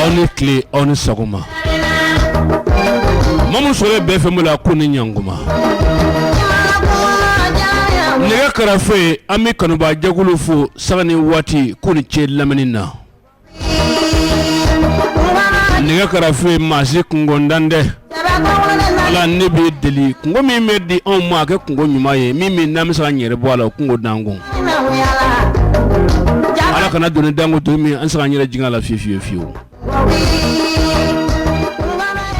aw ni tile aw ni sagoma maa mun sɔrɔ bɛ fɛn mun la k'u ni ɲanguma nɛgɛ karafe an bɛ kanubaa jɛkulu fo sanga ni waati k'u ni ce lamɛnni na nɛgɛ karafe maa si kungo dan tɛ Ala ne bɛ deli kungo min bɛ di anw ma a kɛ kungo ɲuman ye min min n'an bɛ se ka an yɛrɛ bɔ a la o kungo da an kun ala kana doni da an kun doni min an tɛ se ka an yɛrɛ jigin a la fiye fiye fiyewu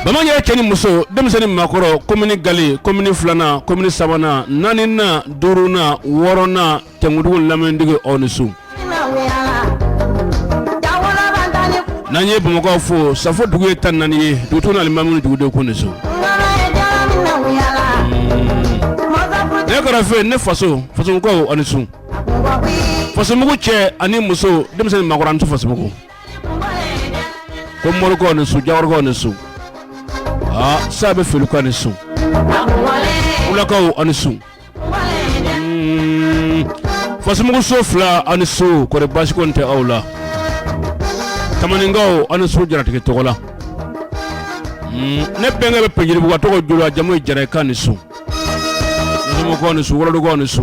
bamanan yɛrɛ cɛ ni muso denmisɛnnin maakɔrɔ komini gale komini filanan komini sabanan naaninan duurunan wɔɔrɔnan tɛmɛtigiw lamɛntigi aw ni su n'an ye bamakɔ fo safo dugu ye tan ni naani ye dugutigi ni alimami dugudenw k'u ni su ne karafe ne faso fasokaw ani su fasomugu cɛ ani muso denmisɛnnin maakɔrɔ ani su fasomugu ko morikaw ni su jawarakaw ni su aa sa bɛ folikan ni su wulakaw ani su fasomugu so fila ani su kɔri basi ko tɛ aw la tamaninkaw ani su jaratigi tɔgɔ la ne bɛnkɛ bɛ pɛnjiribugu a tɔgɔ jula jamu ye jara ye k'a ni su fasomugukaw ni su wolodugukaw ni su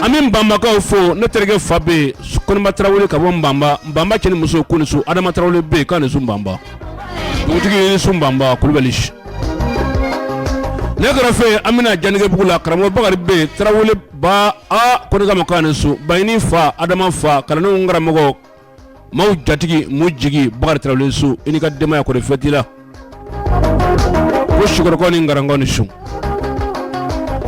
an bɛ banbakaw fo ne terikɛ fa bɛ yen koniba tarawele ka bɔ banba banba cɛ ni muso k'u ni su adama tarawele bɛ yen k'a ni su banba dugutigi ni su banba kulubali ne karafe an bɛna janɛgɛbugu la karamɔgɔ bakari bɛ yen tarawele ba koma k'a ni su bayini fa adama fa kalandenw karamɔgɔ maaw jatigi maaw jigi bakari tarawele su i ni ka denbaya kɔri fɛn t'i la ko sikɔrɔ ni garan k'u ni su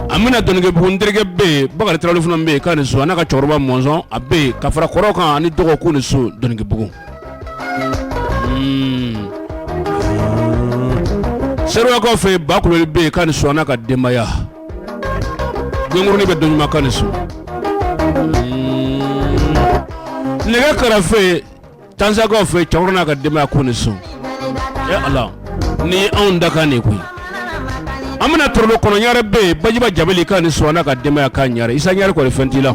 an bɛna dɔnkɛbugu n terikɛ bɛ yen bakari tarawele fana bɛ yen k'a ni su a n'a ka cɛkɔrɔba mɔnzɔn a bɛ yen ka fara kɔrɔ kan ani dɔgɔ k'u ni su dɔnkɛbugu Seruwakaw fɛ ba kulubali bɛ yen k'a ni su a n'a ka denbaya yonkurunin bɛ dɔɲuman k'a ni su nɛgɛ karafe tansakaw fɛ cɛkɔrɔba n'a ka denbaya k'u ni su ala ni anw dakan de koyi an bɛna torolo kɔnɔ ɲare bɛ yen bajiba jabeli k'a ni su a n'a ka denbaya ka ɲare isa ɲare kɔri fɛn t'i la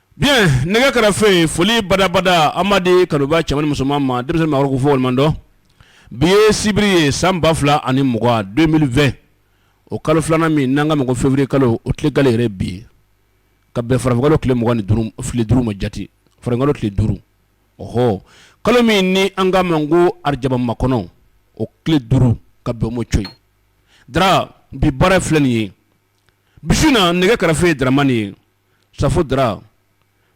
Bi nɛgɛ karafe foli badabada an b'a di kanubaa cɛman ni musoman ma denmisɛnnin fɔ madɔ bi ye sibiri ye san ba fila ani mugan deux mille vingt o kalo filanan min n'an k'a ma ko feburuye kalo o tile gale yɛrɛ bi ye ka bɛn farafinkalo tile mugan ni duuru ma jate farafinkalo tile duuru ɔ kalo min ni an k'a ma ko arajaba makɔnɔ o tile duuru ka bɛn o ma cɔyi da bi baara filɛ nin ye bi su na nɛgɛ karafe dramani ye safo dara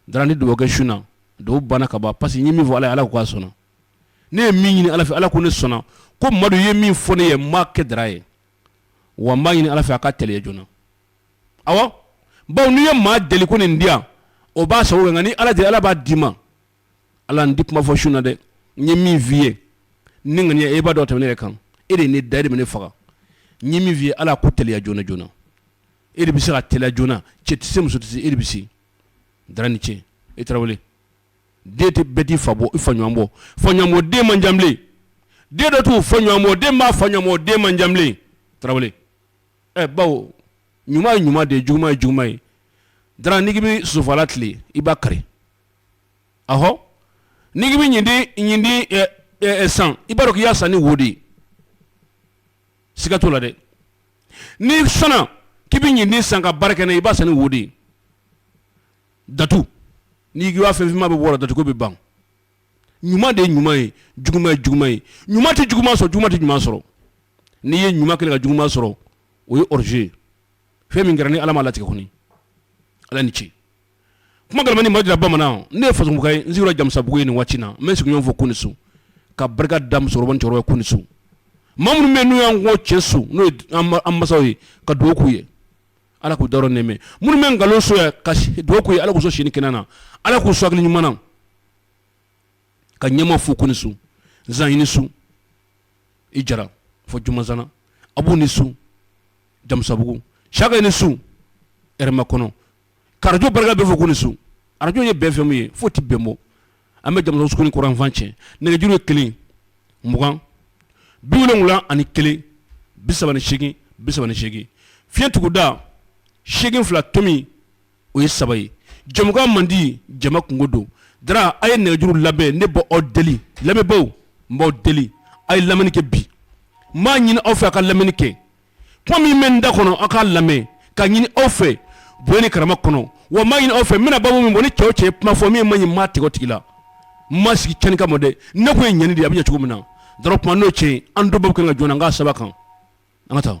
da ni dɔgɔkɛ sun dɔw banna ka ban parce que n ye min fɔ ala ala k' a sɔnna ne ye min ɲini ala fɛ ala ko ne sɔnna ko madu ye min fɔ ne ye n m'a kɛ dara ye wa n b'a ɲini ala fɛ a ka teliya joona ɔwɔ baw n'i ye maa deli ko nin di yan o b'a sago kɛ nka ni ala de ala b'a d'i ma ala n di kuma fɔ su in na dɛ n ye min f'i ye ni ŋ e b'a dɔn tɛmɛ ne yɛrɛ kan e de ye ne da e de bɛ ne faga n ye min f'i ye ala k'o teliya joona joona e de bɛ se k'a teliya joona cɛ tɛ se muso tɛ se e de bɛ se dara ni ce e tarawele den tɛ bɛɛ t'i fa bɔ i fa ɲɔgɔn bɔ fa ɲɔgɔn bɔ den man ca bilen den dɔw t'u fa ɲɔgɔn bɔ den b'a fa ɲɔgɔn bɔ den man ca bilen tarawele ɛ baw ɲuman ye ɲuman de ye juguman ye juguman ye dara n'i k'i bɛ sofala tilen i b'a kari ahɔ n'i k'i bɛ ɲintin san i b'a dɔn k'i y'a san ni wo de ye siga t'o la dɛ n'i sɔnna k'i bɛ ɲintin san ka baara kɛ n'a ye i b'a san ni wo de ye datu n'i ko i b'a fɛn finman bɛɛ bɔ o la datu ko bɛ ban ɲuman de ye ɲuman ye juguman ye juguman ye ɲuman tɛ juguman sɔrɔ juguman tɛ ɲuman sɔrɔ n'i ye ɲuman kɛlen ka juguman sɔrɔ o ye hors-jeu ye fɛn min kɛra ni Ala m'a latigɛ kɔni Ala ni ce kuma gama ni maja bamanan ne ye fazkan ye n sigiyɔrɔ jamusabugu ye nin waati na n bɛ n sigiɲɔgɔn fo k'u ni su ka barika da musokɔrɔba cɛkɔrɔba k'u ni su maa minnu bɛ n'u y'an kɔn cɛn so n'o an masaw ye ka dugawu k'u ye ala k'u dayɔrɔ nɛɛma minnu bɛ nkalon so ka dugawu k'u ye ala k'u sɔn si ni kɛnɛya la ala k'u sɔn hakili ɲuman na ka ɲɛma fo k'u ni su zan i ni su i jara fɔ jumanzana a b'u ni su jamusabugu saka i ni su hɛrɛmakɔnɔ radio barika bɛɛ fo k'u ni su, radio ye bɛn FM ye foyi tɛ bɛn bɔ, an bɛ jamana sugunin kɔrɔn yanfan cɛ nɛgɛjuru ye kelen, mugan, bi wolonwula ani kelen, bi saba ni seegin, bi saba ni seegin, fiɲɛ tuguda seegin fila tomi o ye saba ye, jɛmukan man di jama kunko don, Dra a ye nɛgɛjuru labɛn ne bɛ aw deli lamɛnbaaw n b'aw deli a ye lamɛnni kɛ bi, n b'a ɲini aw fɛ a ka lamɛnni kɛ kuma min bɛ n da kɔnɔ aw k'a lamɛn ka ɲini aw fɛ bonya ni karama kɔnɔ wa n b'a ɲini aw fɛ n bɛna babu min bɔ ni cɛ o cɛ ye kuma fɔ min man ɲi n m'a tigɛ o tigi la n ma sigi cɛnni kama dɛ ne kun ye ɲɛni de ye a bɛ ɲɛ cogo min na dɔrɔn kuma n'o cɛ ye an dɔw bɛɛ bɛ kan ka jɔn na n k'a sɛbɛn a kan an ka taa.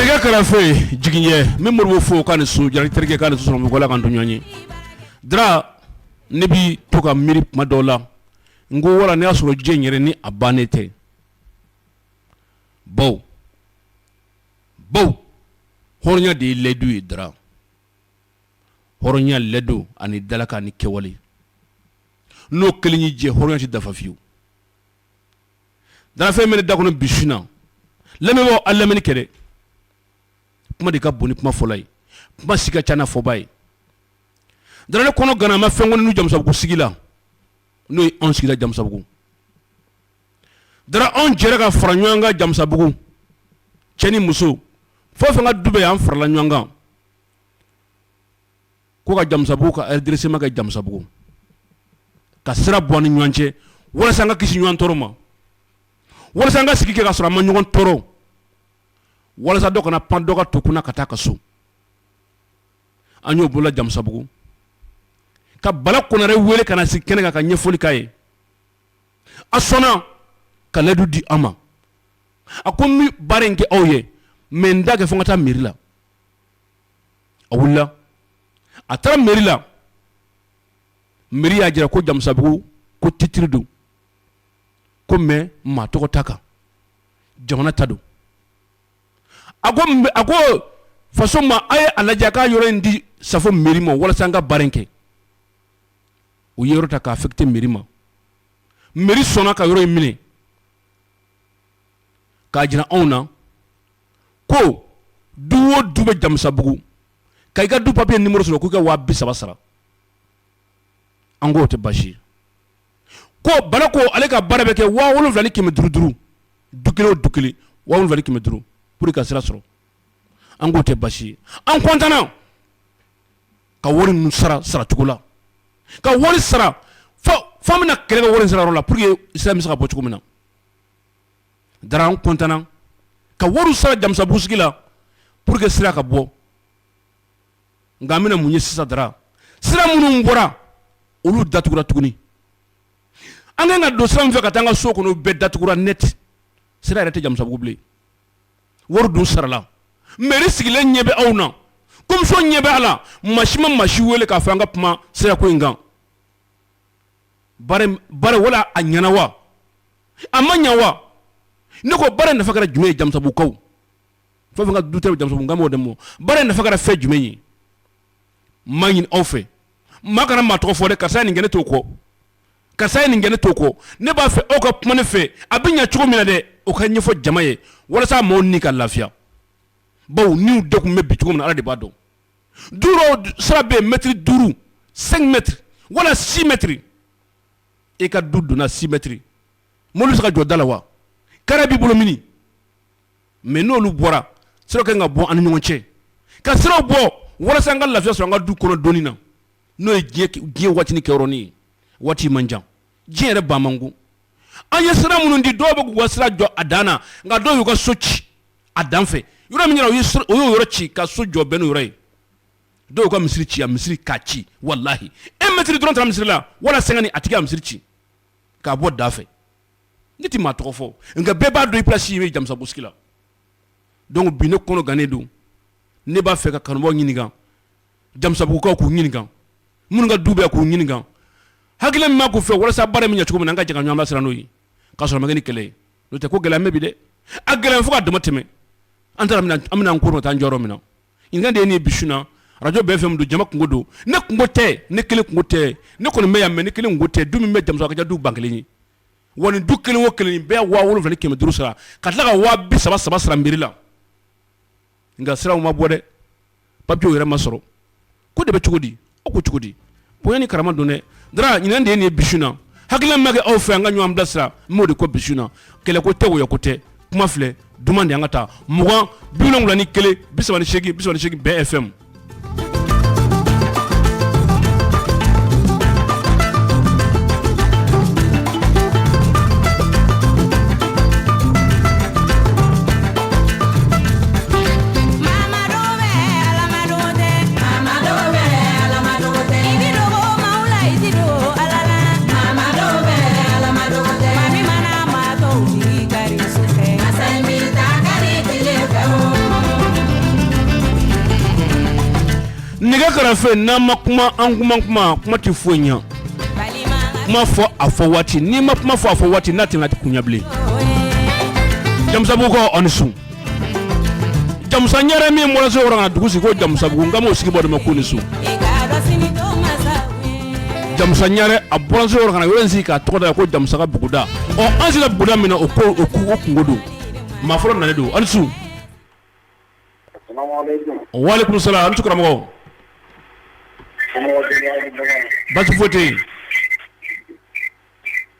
nɛgɛ karafe jigi ye min mori fo k'a ni su ja terikɛ k'a ni su sunɔgɔla ka duniya ye dara ne bɛ to ka miiri maa dɔw la n ko wara n y'a sɔrɔ diɲɛ yɛrɛ ni a ban ne tɛ baw baw hɔrɔnya de ye layidu ye dara hɔrɔnya layidu ani dalakan ni kɛwale n'o kelen y'i jɛ hɔrɔnya tɛ dafa fiyewu dara fɛn bɛ ne da kɔnɔ bi su in na lamɛnbaaw a lamɛnni kɛ dɛ kuma de ka bon ni kuma fɔla ye kuma si ka ca n'a fɔbaa ye dara ne kɔnɔ ganna n ma fɛn kɔni n'u jamusabugu sigi la n'o ye anw sigila jamusabugu dara anw jɛra ka fara ɲɔgɔn kan jamusabugu cɛ ni muso fo fɛn ka du bɛ an farala ɲɔgɔn kan ko ka jamusabugu ka redressement kɛ jamusabugu ka sira bɔ ni ɲɔgɔn cɛ walasa an ka kisi ɲɔgɔn tɔɔrɔ ma walasa an ka sigi kɛ ka sɔrɔ an ma ɲɔgɔn tɔɔrɔ walasa dɔ kana pan dɔ ka du kunna ka taa ka so an y'o boloda jamusabugu ka bala konare wele ka na sigi kɛnɛ kan ka ɲɛfɔli k'a ye a sɔnna ka layidu di an ma a ko n bɛ baara in kɛ aw ye mɛ n t'a kɛ fo n ka taa mɛri la a wulila a taara mɛri la mɛri y'a jira ko jamusabugu ko titiri don ko mɛ maa tɔgɔ t'a kan jamana ta don a a ko faso ma a ye a lajɛ ka yɔrɔ in di safo mɛri ma walasa an ka baara in kɛ u ye yɔrɔ ta k'a affecter mɛri ma mɛri sɔnna ka yɔrɔ in minɛ k'a jira anw na ko du o du bɛ jamusabugu ka i ka du papiye nimɔrɔ sɔrɔ k'u ka waa bi saba sara an k'o tɛ baasi ye ko bala ko ale ka baara bɛ kɛ waa wolonwula ni kɛmɛ duuru duuru du kelen o du kelen waa wolonwula ni kɛmɛ duuru pour i ka sira sɔrɔ an k'o tɛ baasi ye an kɔntanna ka wari ninnu sara saracogo la ka wari sara fo an bɛna kɛlɛ kɛ wari sarayɔrɔ la pour que sira bɛ se ka bɔ cogo min na dara an kɔntanna ka wari sara jamusabugu sigi la pour que sira ka bɔ nka an bɛna mun ye sisan dara sira minnu bɔra olu datugura tuguni an ka kan ka don sira min fɛ ka taa an ka so kɔnɔ o bɛɛ datugura neti sira yɛrɛ tɛ jamusabugu bilen wari dun sarala mɛri sigilen ɲɛ bɛ aw na komisɔn ɲɛ bɛ a la maa si ma maa si wele k'a fɔ an ka kuma sira ko in kan baara wala a ɲɛna wa a ma ɲɛ wa ne ko baara nafa kɛra jumɛn ye jamusabugukaw fo ka du jamusabugukaw de ma baara nafa kɛra fɛn jumɛn ye n b'a ɲini aw fɛ maa kana maa tɔgɔ fɔ dɛ karisa nin kɛ ne t'o kɔ karisa ye nin kɛ ne t'o kɔ ne b'a fɛ aw ka kuma ne fɛ a bɛ ɲɛ cogo min na dɛ o ka ɲɛfɔ jama ye walasa maaw ni ka lafiya bawo niw degunnen bɛ bi cogo min na ala de b'a dɔn du sira bɛ mɛtiri duuru cinq mètres wala six mètres e ka du donda six mètres mɔbili bɛ se ka jɔ da la wa kari b'i bolo mini mɛ n'olu bɔra sira ka bɔ an ni ɲɔgɔn cɛ ka siraw bɔ walasa an ka lafiya sɔrɔ an ka du kɔnɔ donni na n'o ye diɲɛ waatinin kɛyɔrɔnin ye waati man jan diɲɛ yɛrɛ ba man an ye sira minnu di dɔw bɛ k'u ka sira jɔ a dan na nka dɔw y'u ka so ci a dan fɛ yɔrɔ min u y'o yɔrɔ ci ka so jɔ bɛn n'o yɔrɔ ye dɔw ka misiri ci misiri k'a ci walahi e mɛtiri dɔrɔn taara misiri la wala sɛnkanti a tigi ka misiri ci k'a bɔ da fɛ ne tɛ maa tɔgɔ fɔ nka bɛɛ b'a dɔn i place ye jamusabugu sigi la donc bi ne kɔnɔ gannen don ne b'a fɛ ka kanubaw ɲininka jamusabugukaw k'u ɲininka minnu ka du bɛ k'u ɲininka hakili min ma k'u fɛ walasa baara bɛ ɲɛ cogo min an ka jɛ ka ɲɔgɔn bilasira n'o ye k'a sɔrɔ a ma kɛ ni kɛlɛ ye n'o tɛ ko gɛlɛn bɛ bi dɛ a gɛlɛn fo ka dama tɛmɛ an an bɛna an kɔrɔta an jɔyɔrɔ min na n de ye nin ye bi su na arajo BFM don jama kunko don ne kunko tɛ ne kelen kunko tɛ ne kɔni bɛ yan mɛ ne kelen kunko tɛ du min bɛ jamusabugu a ka ca du ba kelen ye wa nin du kelen o kelen bɛɛ waa wolonwula ni kɛmɛ duuru sara ka tila ka waa bi saba saba sara mɛri la nka siraw ma bɔ dɛ papiye yɛrɛ ma sɔrɔ ko de bɛ cogo di o ko cogo di bonya ni karama don dɛ daraɲini kan de ye nin ye bi su na hakilina min ma kɛ aw fɛ an ka ɲɔgɔn bilasira n b'o de kɔ bi su na kɛlɛ ko tɛ wɔyɔ ko tɛ kuma filɛ duman de an ka taa mugan bi wolonwula ni kelen bi saba ni segin bi saba ni segin BFM Nɛgɛ karafe n'an ma kuma an kuma kuma kuma tɛ foyi ɲɛ kuma fɔ a fɔ waati n'i ma kuma fɔ a fɔ waati n'a tɛna di ko ɲa bilen jamusabugukaw aw ni su jamusa ɲare min bɔra sikɔrɔ ka na dugu sigi ko jamusabugu n kan b'o sigi bɔnda ma k'aw ni su jamusa ɲare a bɔra sikɔrɔ ka na yɔrɔ sigi k'a tɔgɔ da ko jamusa ka buguda ɔ an sera buguda min na o ko o kunko don maa fɔlɔ nalen don aw ni su asalamu alekum walekum salamu aw ni su karamɔgɔ basi foyi tɛ yen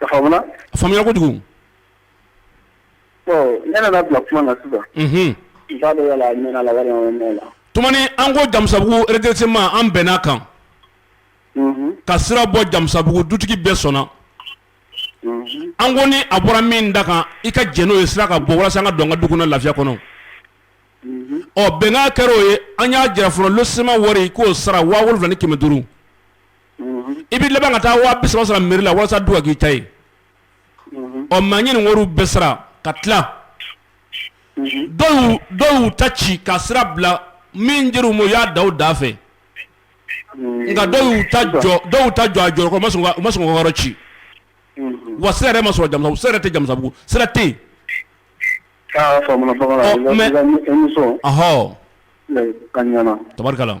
A faamuyara kojugu ne nana bila kuma na sisan tuma min an ko jamusabugu redressement an bɛnna a kan ka sira bɔ jamusabugu dutigi bɛɛ sɔnna an ko ni a bɔra min da kan i ka jɛn n'o ye sira ka bɔ walasa an ka don an ka du kɔnɔ lafiya kɔnɔ ɔ bɛnkan kɛra o ye an y'a jira fɔlɔ lotissement wari k'o sara waa wolonwula ni kɛmɛ duuru i bɛ laban ka taa waa bi saba sara mairie la walasa du ka k'i ta ye maa ye nin wari bɛɛ sara ka tila dɔw y'u ta ci ka sira bila min dira u ma u y'a da o da fɛ nka dɔw y'u ta jɔ a jɔyɔrɔ kɔrɔ u ma sɔn k'o yɔrɔ ci wa sira yɛrɛ ma sɔrɔ Jamusa sira tɛ Jamusabugu sira tɛ yen ɔnhɔn tabarikala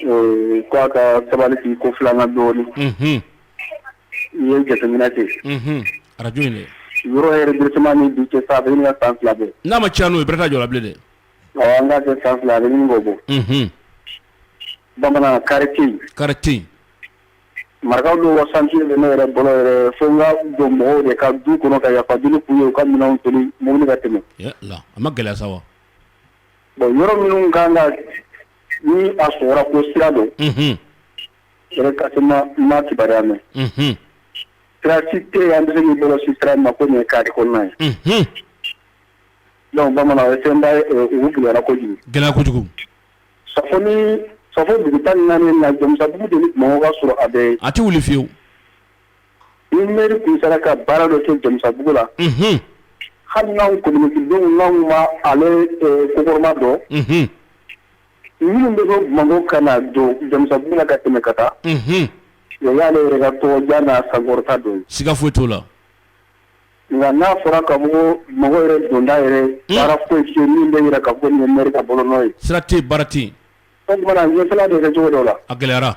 K'i ka sabali k'i ko filanan dɔɔnin i ye jateminɛ kɛ arajo yɔrɔ yɛrɛ redressement ni bi cɛ san san fila bɛ n'a ma caya n'o ye bɛrɛ t'a jɔ la bilen dɛ an ka kɛ san fila ni bɔ bɔ bamanan quartier quartier marakaw dɔ ka chantier bɛ ne yɛrɛ bolo yɛrɛ fo n ka don mɔgɔw de ka du kɔnɔ ka yafa deli k'u ye u ka minɛnw wuli mobili ka tɛmɛ a ma gɛlɛya sa wa bon yɔrɔ minnu ka kan ka Ni a sɔrɔla ko sira don yɛrɛ ka se ma kibaruya mɛn sira si tɛ yen i bɛ se k'i bolo sin sira ma ko nin ye carré kɔnɔna ye donc bamanan ye fɛnba ye u gɛlɛyara kojugu gɛlɛyara kojugu Safo Safo dugu tan ni naani na Jamusabugu de ni mɔgɔw ka sɔrɔ a bɛ a tɛ wuli fiyewu Nri sera ka baara dɔ kɛ jamubugu la hali b'ama dɔn minnu bɛ bɔ ka na don jamubugu ka tɛmɛ ka taa y'ale yɛrɛ tɔgɔjan n'a sankɔrɔta don siga foyi t'o la nka n'a fɔra ka mɔgɔ yɛrɛ donda yɛrɛ foyi min bɛ yɛrɛ ka bɔ niri ka bɔ n ye sirate baara ten o ɲɛ de kɛ cogo dɔ la a gɛlɛyayara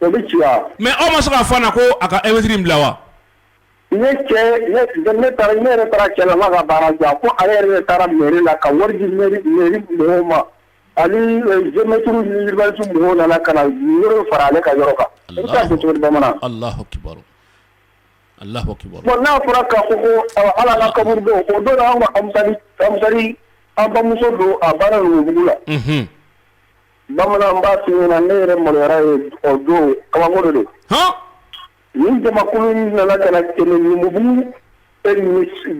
O bɛ ci wa? Mais aw ma se k'a fɔ a ɲɛna ko a ka un mètre in bila wa? Ne cɛ ne ne taara ne yɛrɛ taara cɛ la n k'a ka baara jɔ a ko ale yɛrɛ de taara mairie la ka wari di mairie mairie mɔgɔw ma ani geometres ni urbanisme mɔgɔw nana ka na yɔrɔ fara ale ka yɔrɔ kan. Alahu akibaru. I bɛ se k'a kɛ cogo di bamanan? Alahu akibaru. Alahu akibaru. Bon n'a fɔra k'a fɔ ko ɔ hali an ka kaburu don o don na anw ka armutari armutari an bamuso don a banna Numubugu la. Unhun. Bamanan b'a f'i ɲɛna ne yɛrɛ maloyara yen o don kabako de don, han, nin jamakulu in nana ka na tɛmɛ Numubugu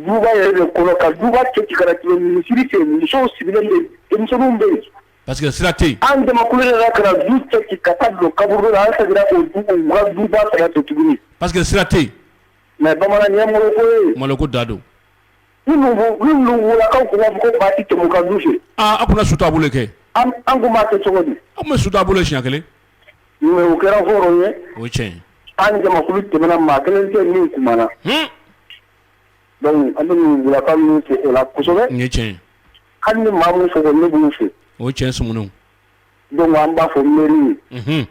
duba yɛrɛ de kɔnɔ ka duba cɛ ci ka na tɛmɛ misiri fɛ musow sigilen bɛ yen denmisɛnninw bɛ yen parce que sira tɛ yen, an jamakulu nana ka na du cɛ ci ka taa don kaburu la an seginna o du u ka duba fana fɛ tuguni parce que sira tɛ yen, mais bamanan nin ye maloko ye, maloko dan don Kaw kun b'a fɔ ko ba tɛ tɛmɛ u ka du fɛ, aa a tun bɛ su taabolo de kɛ, an tun b'a kɛ cogo di, aw tun bɛ su taabolo kɛ siɲɛ kelen, mais o kɛra hɔrɔn ye, o ye tiɲɛ ye, an ni jamakulu tɛmɛna maa kelen tɛ yen min kumana, hunn, donc an bɛ Mumubulakaw ninnu fo o la kosɛbɛ, nin ye tiɲɛ ye, hali ni maa min fɔ ko ne b'u fo, o ye tiɲɛ ye Sumuni, donc an b'a fɔ mairie ye, unhun,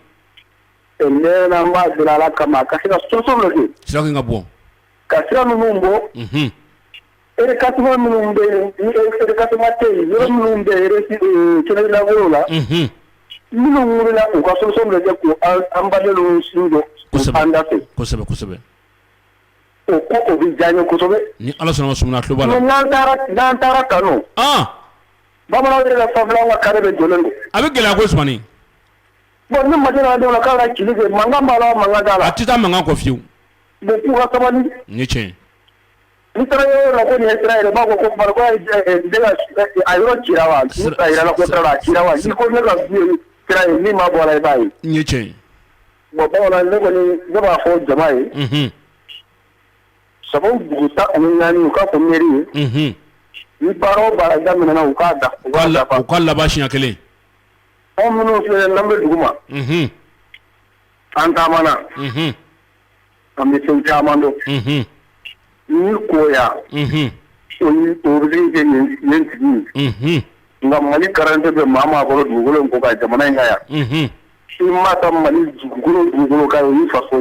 ɛ n mɛɛnna an b'a deli Ala kama a ka se ka solution dɔ kɛ, sira kan ka bɔ ka sira ninnu bɔ minnu bɛ la minnu la u ka so an ba su don an da kosɛbɛsɛbɛ o ko bɛ diya yesɛbɛ ni ala sɔnna sumana tulo n'an taara kanu bamanan yɛrɛ fa ka kari bɛ jɔ don a bɛ gɛlɛya ko sɔn bon ni ma dɔw k' ka ci mankan la mankan la a tɛ taa mankan kɔ fiyewu Mais k'u ka sabali, o ye tiɲɛ ye, n'i taara yɔrɔ la ko nin ye sira ye u b'a fɔ ko a yɔrɔ cira wa? A yira an na ko a cira wa? N'i ko ne ka du ye sira ye min ma bɔ a la i b'a ye, o ye tiɲɛ ye, bon ne kɔni ne kɔni ne b'a fɔ jama ye, unhun, Safo dugu tan ani naani u k'a fɔ mairie ye, unhun, ni baara o baara daminɛna u k'a da u k'a laban siɲɛ kelen, anw minnu filɛ n'an bɛ duguma, unhun, an taamana, unhun An bɛ fɛn caman don n koya sigi nka mali garante bɛ maa maa bolo dugu ko ka jamana in ka yan i ma ka mali dugu dugu ka fa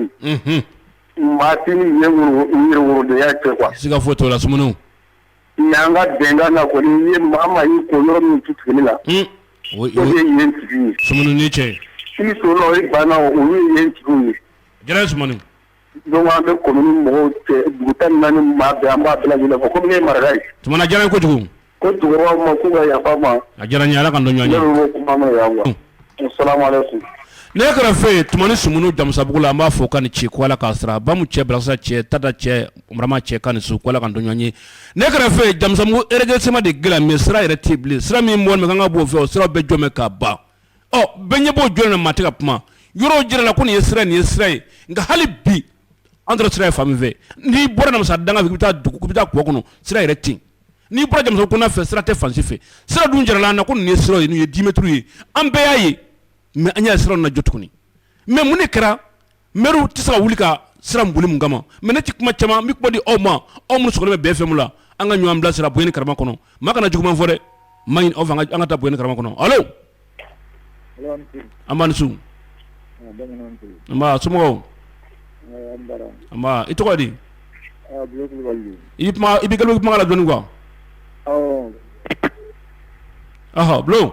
maat yɛrɛya kɛ kuwa siiga fo tora sun nka an ka bɛnkan na ko ye maa ma ko yɔrɔ min tu tile la o ye yen sigi sun cɛ i o ye banna o ye yen tugu ye Jara zumana don an bɛ kɔni mɔgɔw dugu tan naani maa bɛ an b'a bila ɲɛna ko ye mara ye tuma jara kojugu ko cɛkɔrɔba ma ko yafa ma a diyara ala ka ɲɔgɔn ne kɛra fɛ yen tuma ni sumaworo damusabugu la an b'a fɔ ka ni ci k' la k'a sɔrɔ a ba cɛ bilasa cɛ tata cɛ mara cɛ ka ni su k' la ka ɲɔgɔn ye ne kɛra fɛ yen jamumu ejsima de g min sira yɛrɛ tɛbi sira min bɔ min kan ka bɔ fɛ o sira bɛ jɔmɛ ka ban ɔ bɛɛ ɲɛ b'o jɔlen na maa tɛ ka kuma yɔrɔw jirala ko nin ye sira nin ye sira ye nka hali bi an tɔɔrɔ sira ye fan min fɛ n'i bɔra namasa danga fɛ k'i bɛ taa dugu k'i bɛ taa kɔ kɔnɔ sira yɛrɛ tɛ yen n'i bɔra jamana kɔnɔ fɛ sira tɛ fan si fɛ sira dun jirala an na ko nin ye sira ye nin ye dix mètres ye an bɛɛ y'a ye mais an y'a sɔrɔ u nan'a jɔ tuguni mais mun de kɛra Mɛri tɛ se ka wuli ka sira boli mun kama mɛ ne tɛ kuma caman n bɛ kuma di aw ma aw minnu sɔgɔlen bɛ BFM la an ka ɲɔgɔn bila sira bonya ni karama kɔnɔ maa kana juguman fɔ dɛ n b'a ɲini aw fɛ an ka taa bonya ni karama kɔnɔ alo nba i ni su nba somɔgɔw nba i tɔgɔ di i bɛ kuma la dɔɔni kuwa bulon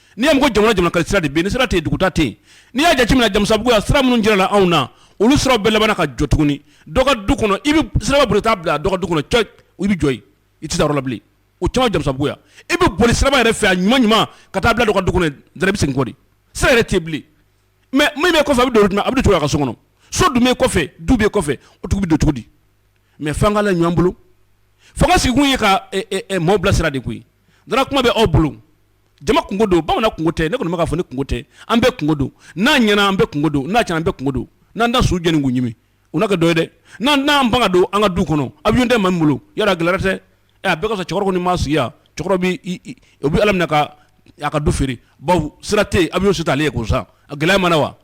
n'i y'a mɛn ko jamana jamana ka di sira de bɛ yen ni sira tɛ yen dugu ta tɛ yen n'i y'a jateminɛ jamusabugu yan sira minnu jirala anw na olu siraw bɛɛ labanna ka jɔ tuguni dɔ ka du kɔnɔ i bɛ sira boli taa bila dɔ ka du kɔnɔ cɔ i bɛ jɔ yen i tɛ taa yɔrɔ la bilen o caman jamusabugu yan i bɛ boli sira yɛrɛ fɛ a ɲuman ɲuman ka taa bila dɔ ka du kɔnɔ dɛrɛ i bɛ segin kɔ de sira yɛrɛ tɛ bilen mɛ min bɛ kɔfɛ a bɛ don a bɛ don a ka so kɔnɔ so dun bɛ kɔfɛ du bɛ kɔfɛ o tigi bɛ don cogo di mɛ f'an ka la ɲɔgɔn bolo fanga sigikun ye ka maaw bilasira de koyi Dara kuma bɛ aw bolo jama kunko don bamanan kunko tɛ ne kɔni bɛ k'a fɔ ne kunko tɛ an bɛɛ kunko don n'a ɲɛna an bɛɛ kunko don n'a tiɲɛna an bɛɛ kunko don n'an da su jeni k'u ɲimi u n'a kɛ dɔ ye dɛ n'an n'an ban ka don an ka du kɔnɔ awiyɔn tɛ maa min bolo yala gɛlɛya tɛ a bɛɛ ka cɛkɔrɔba ni maya u bɛ ala minɛ ka a ka du feere bawo sira tɛ yen awiyɔn si t'ale ye ko sa a gɛlɛya mana wa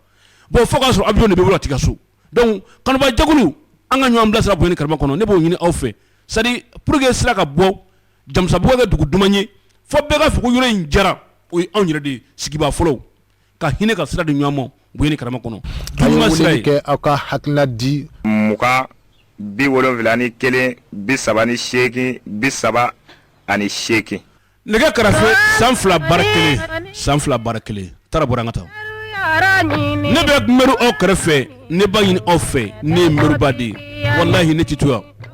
bon fo y'a sɔrɔ awiyɔn de bɛ tigɛ so dɔnku kanubajɛkulu an ka ɲɔgɔn bila sira bonya ni karama kɔnɔ ne b'o ɲini aw fɛ sa pour que sira ka bɔ jamusabugu ka kɛ dugu duman ye fo bɛɛ k'a fɔ ko yɔrɔ in diyara o ye anw yɛrɛ de sigibaa fɔlɔw ka hinɛ ka sira di ɲɔgɔn ma bonya ni karama kɔnɔ a ye weleli kɛ aw ka hakilina di mugan bi wolonwula ni kelen bi saba ni seegin bi saba ani seegin nɛgɛ karafe san fila baara kelen san fila baara kelen taara bɔra an ka taa ne bɛ mɛriw kɛrɛfɛ ne b'a ɲini aw fɛ ne ye mɛriba de ye walahi ne tɛ to yan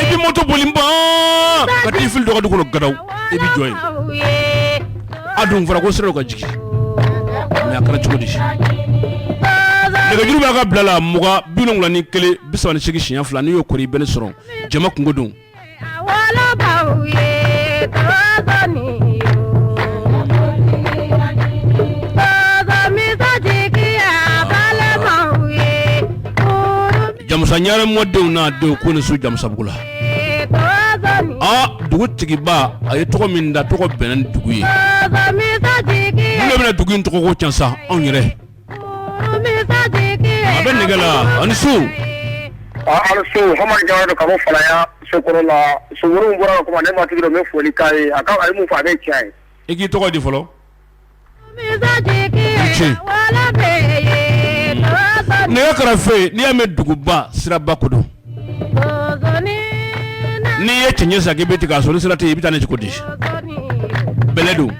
I bɛ moto boli ban ka t'i fili dɔ ka du kɔnɔ gadaw i bɛ jɔ yen a dun fɔra ko sira dɔ ka jigin mɛ a kɛra cogo di nɛgɛjuru b'aw ka bila la mugan bi wolonwula ni kelen bi saba ni seegin siɲɛ fila n'i y'o kɔri i bɛ ne sɔrɔ jama kunko don Jamusa Ɲare mɔdenw n'a denw k'u ni su jamusabugu la dugu tigiba a ye tɔgɔ min da tɔgɔ bɛnna ni dugu ye ne bɛna dugu in tɔgɔ ko ca sa anw yɛrɛ a bɛ nɛgɛ la a ni su Aw ni su Hamadi Jawara don ka bɔ Falaya sokɔrɔ la sogoro min bɔra ka kuma ne m'a tigi dɔn n bɛ foli k'a ye a ka a ye min fɔ a bɛɛ ye tiɲɛ ye i k'i tɔgɔ di fɔlɔ nɛgɛ karafe n'i y'a mɛn duguba siraba ko don n'i ye cɛncɛn san k'i bɛ t'i ka so ni sira tɛ yen i bɛ taa ni cogo di bɛlɛ don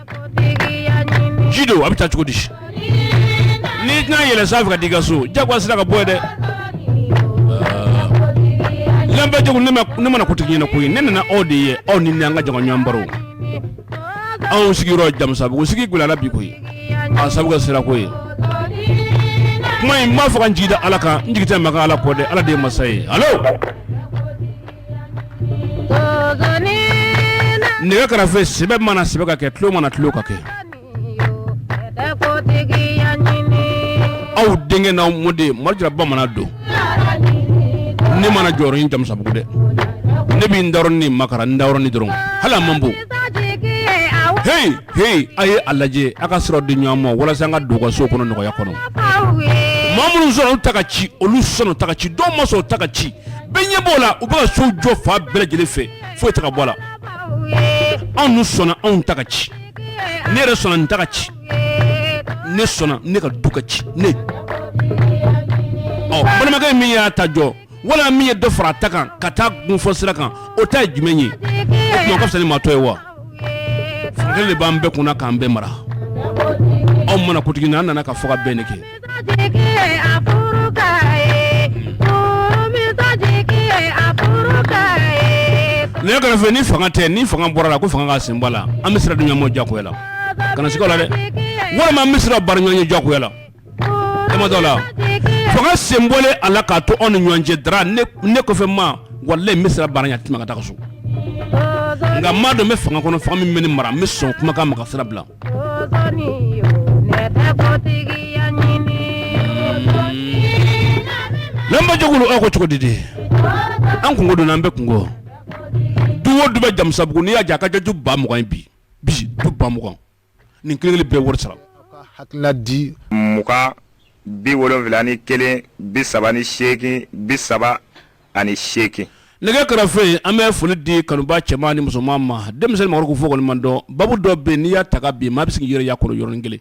ji don a bɛ taa cogo di n'i tɛna yɛlɛ san fɛ ka t'i ka so jagoya sira ka bɔ ye dɛ lamɛnbaa jɛkulu ne ma na kotigi ɲɛ na koyi ne nana aw de ye aw ni ne an ka jɛ ka ɲɔgɔn baro anw sigiyɔrɔ jamusabugu sigi gɛlɛyara bi koyi sira ko ye kuma in n b'a fɔ ka n jigi da ala kan n jigi tɛ maa kan ala kɔ dɛ ala de ye masa ye alo nɛgɛ kɛrɛfɛ sɛbɛ mana sɛbɛ ka kɛ tulon mana tulon ka kɛ aw denkɛ n'aw mɔden mori jara bamanan don ne ma na jɔyɔrɔ ɲini jamusabugu dɛ ne bɛ n dayɔrɔnin makaran n dayɔrɔnin dɔrɔn hali a man bon Heyi a ye a lajɛ a ka sira di ɲɔgɔn ma walasa an ka don u ka so kɔnɔ nɔgɔya kɔnɔ, aw ye, maa minnu sɔnna u ta ka ci olu sɔnna u ta ka ci dɔw ma sɔn u ta ka ci bɛɛ ɲɛ b'o la u bɛ ka sow jɔ fan bɛɛ lajɛlen fɛ foyi tɛ ka bɔ a la, aw ye, anw dun sɔnna anw ta ka ci ne yɛrɛ sɔnna n ta ka ci ne sɔnna ne ka du ka ci ne balimakɛ min y'a ta jɔ wala min ye dɔ fara a ta kan ka taa gunfɔ sira kan o ta ye jumɛn ye o tuma o ka fisa ni maa tɔ ye wa de b'an bɛɛ kunna k'an bɛɛ mara anw ma na kotigi na an nana ka fɔ ka bɛn nɛgɛnin kɛrɛfɛ ni fanga tɛ ni fanga bɔra a la ko fanga ka sen bɔ a la an bɛ sira di ɲɔgɔn ma jagoya la kana siga a la dɛ walima an bɛ sira bara ɲɔgɔn ɲɛ jagoya la la fanga sen bɔlen a la k'a to anw ni ɲɔgɔn cɛ dɔrɔn ne kɔfɛ maa walayi n bɛ sira bara i ɲɛ i tɛ tɛmɛ ka taa so nka maa dɔ bɛ fanga kɔnɔ fanga min bɛ ne mara n bɛ sɔn kumakan ma ka sira bila lamɛnbaa jɛkulu aw ko cogo di de an kunko don an bɛɛ kunko don du o du bɛ jamusabugu n'i y'a jɛ a ka ca du ba mugan in bi bi du ba mugan nin kelen kelen bɛɛ wari sara hakilina di mugan bi wolonwula ni kelen bi saba ni seegin bi saba ani seegin nɛgɛ kɛrɛfɛ yen an bɛ foli di kanuba cɛman ni musoman ma denmisɛnnin maakɔrɔ ko fɔ kɔni man dɔn babu dɔ bɛ n'i y'a ta ka bin maa bɛ se k'i yɛrɛ y'a kɔnɔ yɔrɔnin kelen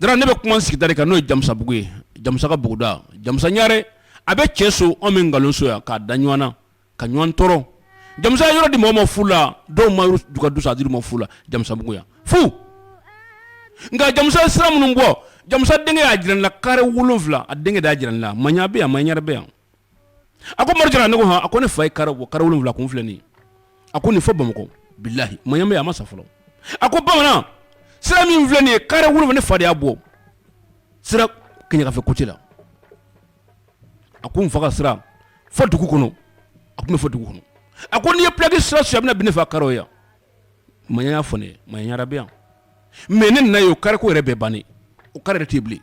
dɔrɔn ne bɛ kuma sigida de kan n'o ye jamusabugu ye jamusa ka buguda jamusa ɲare a bɛ cɛn so anw bɛ nkalonso yan k'a da ɲɔgɔn na ka ɲɔgɔn tɔɔrɔ jamusa yɔrɔ di mɔgɔ ma fu la dɔw ma u ka du san a dir'u ma fu la jamusabugu yan fu nka jamusa sira minnu bɔ jamusa denkɛ y'a jira la kare wolo wolonwula a denkɛ de y'a jira la maɲa bɛ yan maɲare bɛ yan a ko mori ne ko hɔn a ko ne fa ye kare kare wolonwula kun filɛ a ko nin fɔ bamakɔ bilahi maɲa a ma sa fɔlɔ a ko bamanan sira min filɛ nin ye kare wolonwula ne fa de y'a bɔ sira kɛɲɛkafɛ côté la a ko n fa ka sira fo dugu kɔnɔ a kun bɛ fɔ dugu kɔnɔ a ko n'i ye plaki sira su a bɛna bin ne fa kare yan maɲa y'a fɔ ne ye maɲa ɲare bɛ yan mɛ ne nana yen o kare ko yɛrɛ bɛɛ bannen o kare yɛrɛ tɛ bilen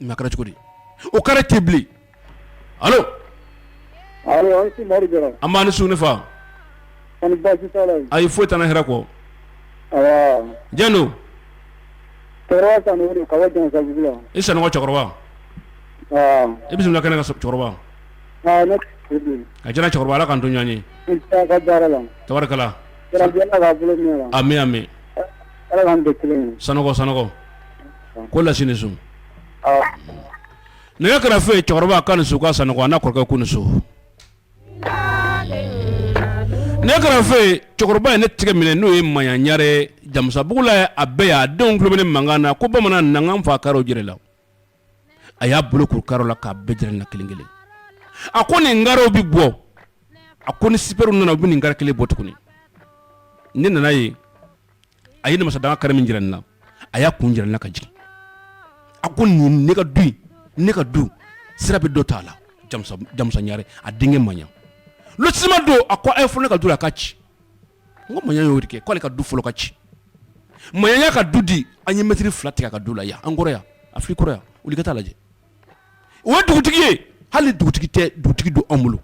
mɛ a kɛra cogo di o kare tɛ bilen alo nba a ni su ne fa a ye foyi tan hɛrɛ kɔ jeliw i san cɛkɔrɔba i bɛ kɛnɛ ka cɛkɔrɔba a jɛra cɛkɔrɔba la ka don ɲɔgɔn ye tarikala mɛn san sanɔgɔ ko las sun nɛgɛ kɛra foyi ye cɛkɔrɔba ka nin su ka san a kɔrɔkɛ ko so Ne kɛrɛfɛ cɛkɔrɔba ye ne tigɛ minɛ n'o ye maɲa ɲare jamusabugu la a bɛ yan a denw tulo bɛ ne mankan na ko bamanan na n k'an fa karew jira i la a y'a bolo kuru karew la k'a bɛɛ jira ne na kelen kelen a ko nin karew bɛ bɔ a ko ni sipɛriw nana u bɛ nin kare kelen bɔ tuguni ne nana yen a ye namasadanga kare min jira n na a y'a kun jira n na ka jigin a ko nin ne ka du ne ka du sira bɛ dɔ t'a la jamusa ɲare a denkɛ maɲa lotisiman don a ko a ye fɔ ne ka du la a k'a ci n ko maɲa y'o de kɛ k'ale ka du fɔlɔ ka ci maɲa y'a ka du di an ye mɛtiri fila tigɛ a ka du la yan an kɔrɔ afiriki kɔrɔ yan wuli ka taa lajɛ o ye dugutigi ye hali dugutigi tɛ dugutigi don anw bolo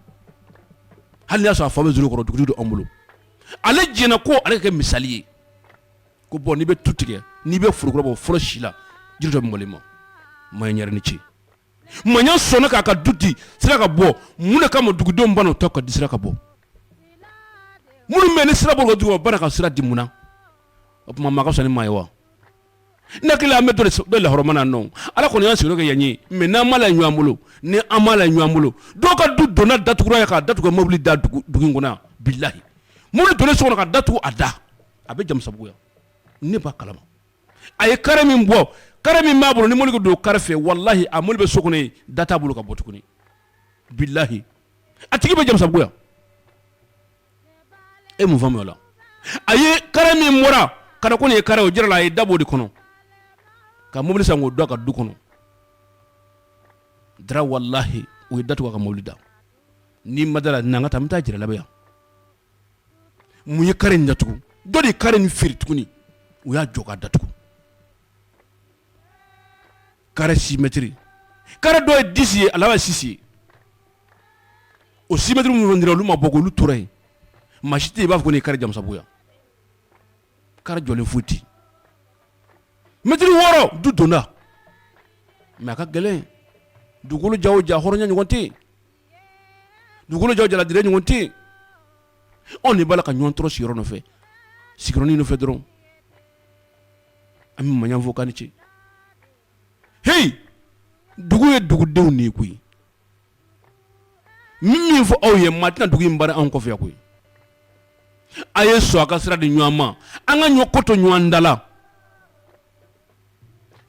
hali n'a y'a sɔrɔ a fa bɛ so kɔrɔ dugutigi don anw bolo ale jɛnna ko ale ka kɛ misali ye ko bɔn n'i bɛ tu tigɛ n'i bɛ forokura bɔ fɔlɔ si la jiri dɔ mɔlen ma maɲa ɲare i ni ce maɲa sɔnna k'a ka du di sira ka bɔ mun de ka ma dugudenw banna u ta ka di sira ka bɔ minnu bɛ nin sira bɔ dugu ka sira di mun na o tuma maa ka fisa ni maa ye wa Ne hakili an bɛ dɔ lahɔrɔma nɔ ala kɔni y'an sigiyɔrɔ kɛ yan ye mɛ n'an ma la ɲɔgɔn bolo ni an ma la ɲɔgɔn bolo dɔw ka du donda datugura yen k'a datugu mobili da dugu kɔnɔ bilayi mobili donna so kɔnɔ ka da tugu a da a bɛ jamusabugu yan ne b'a kalama a ye kare min bɔ kare min b'a bolo ni mobili don kare fɛ walahi a mobili bɛ so kɔnɔ da t'a bolo ka bɔ tuguni bilayi a tigi bɛ jamusabugu yan e mun faamuya o la a ye kare min bɔra k'a da ko nin ye kare o jira la a ye da bɔ o de kɔnɔ ka mobili san k'o don a ka du kɔnɔ dara walahi u ye da tugu a ka mobili da n'i ma da a la n'an ka taa n bɛ taa jira i la bi yan mun ye kare in datugu dɔ de ye kare in feere tuguni u y'a jɔ k'a datugu kare si mɛtiri kare dɔ ye disi ye a laban sisi ye o si mɛtiri minnu dira olu ma bɔ olu tora yen maa si tɛ yen i b'a fɔ n'i kare jamusabugu yan kare jɔlen foyi tɛ yen mɛtiri wɔɔrɔ du donda mɛ a ka gɛlɛn dugukolo ja o ja hɔrɔnya ɲɔgɔn tɛ yen dugukolo ja o jaladire ɲɔgɔn tɛ yen anw de b'a la ka ɲɔgɔn tɔɔrɔ sigiyɔrɔ nɔfɛ sigiyɔrɔnin nɔfɛ dɔrɔn an bɛ maɲan fo k'a ni ce heyi dugu ye dugudenw de ye koyi n bɛ min fɔ aw ye maa tɛna dugu in baara anw kɔfɛ koyi a ye sɔn a ka sira di ɲɔgɔn ma an ka ɲɔ ko to ɲɔgɔn ta la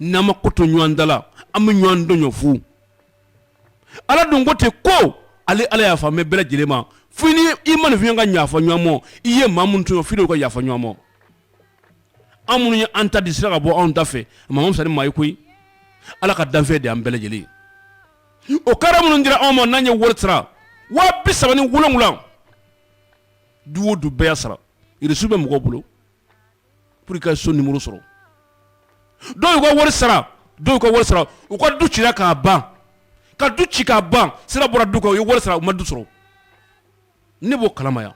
n'an ma ko to ɲɔgɔn ta la an bɛ ɲɔgɔn tɔɲɔ fu ala dun ko ten ko ale ala yafalen bɛ bɛɛ lajɛlen ma fo ni i ma nin fi ka yafa ɲɔgɔn ma i ye maa min tɔɲɔ fi ka yafa ɲɔgɔn ma an minnu ye an ta di sira ka bɔ anw ta fɛ maa man fisa ni maa ye koyi ala ka danfɛn de an bɛɛ lajɛlen o kare minnu dira anw ma n'an ye wari sara waa bi saba ni wolonwula du o du bɛɛ y'a sara reçu bɛ mɔgɔw bolo pour que i ka so nimoro sɔrɔ dɔw y'u ka wari sara dɔw y'u ka wari sara u ka du cira k'a ban ka du ci k'a ban sira bɔra du kan u ye wari sara u ma du sɔrɔ ne b'o kalama yan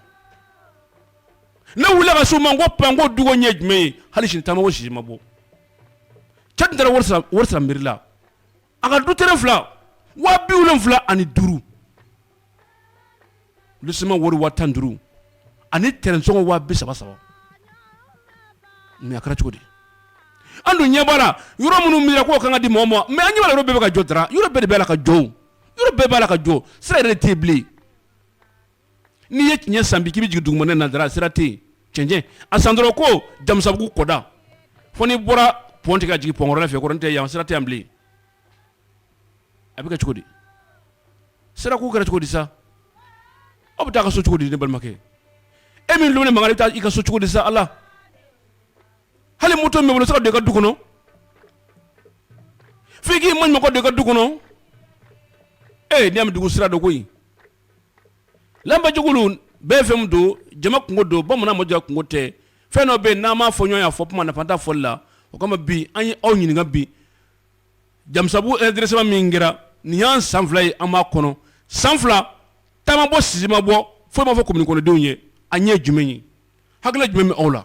ne wulila ka se u ma n ko pan n ko du ko ɲɛ jumɛn ye hali sini ta ma bɔ sisi ma bɔ cɛ tun taara wari sara mɛri la a ka du tɛrɛn fila waa bi wolonwula ani duuru lotisiman wari waa tan ni duuru ani tɛrɛnsɔngɔ waa bi saba saba mɛ a kɛra cogo di an dun ɲɛ b'a la yɔrɔ minnu minɛna k'o kan ka di mɔgɔ ma mɛ an ɲɛ b'a la yɔrɔ bɛɛ bɛ ka jɔ dara yɔrɔ bɛɛ de bɛ la ka jɔ yɔrɔ bɛɛ b'a la ka jɔ sira yɛrɛ de tɛ yen bilen N'i ye kɛɲɛ san bi k'i bɛ jigin dugumana na dara sira tɛ yen, cɛncɛn, a san dɔrɔn ko jamusabugu kɔda fo n'i bɔra pont tigɛ ka jigin pont kɔrɔlen fɛ kɔrɔ n'o tɛ yan sira tɛ yan bilen, a bɛ kɛ cogo di, sira ko kɛra cogo di sa, aw bɛ taa aw ka so cogo di ne balimakɛ, e min tulo bɛ ne mankan na i bɛ taa i ka so cogo di sa Ala hali moto min b'i bolo se ka don i ka du kɔnɔ f'i k'i maɲumako don i ka du kɔnɔ ee n'i y'a mɛn dugu sira don koyi lanbajugulu bɛɛ fɛn min don jama kunko don bamanan ma jɔ kunko tɛ fɛn dɔ bɛ yen n'an m'a fɔ ɲɔgɔn ye a fɔ kuma nafa t'a fɔli la o kama bi an ye aw ɲininka bi jamusabu ɛrɛdiresema min kɛra nin y'an san fila ye an b'a kɔnɔ san fila ta ma bɔ sisi ma bɔ foyi ma fɔ komini kɔnɔdenw ye a ɲɛ jumɛn ye hakili jumɛn bɛ aw la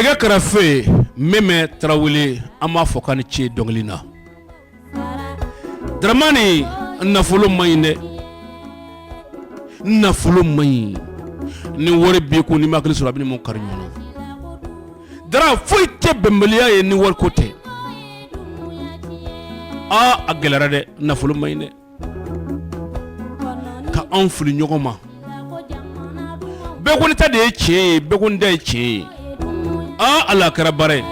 nɛgɛ karafe Mɛmɛ Tarawele an b'a fɔ k'a ni ce dɔnkili na Daramani nafolo man ɲi dɛ nafolo man ɲi ni wari b'i kun n'i ma hakili sɔrɔ a b'i ni mɔgɔ kari ɲɔgɔn Dara foyi tɛ bɛnbaliya ye ni wariko tɛ aa a gɛlɛyara dɛ nafolo man ɲi dɛ ka anw fili ɲɔgɔn ma bɛɛ ko ne ta de ye tiɲɛ ye bɛɛ ko ne ta ye tiɲɛ ye aa ala kɛra baara ye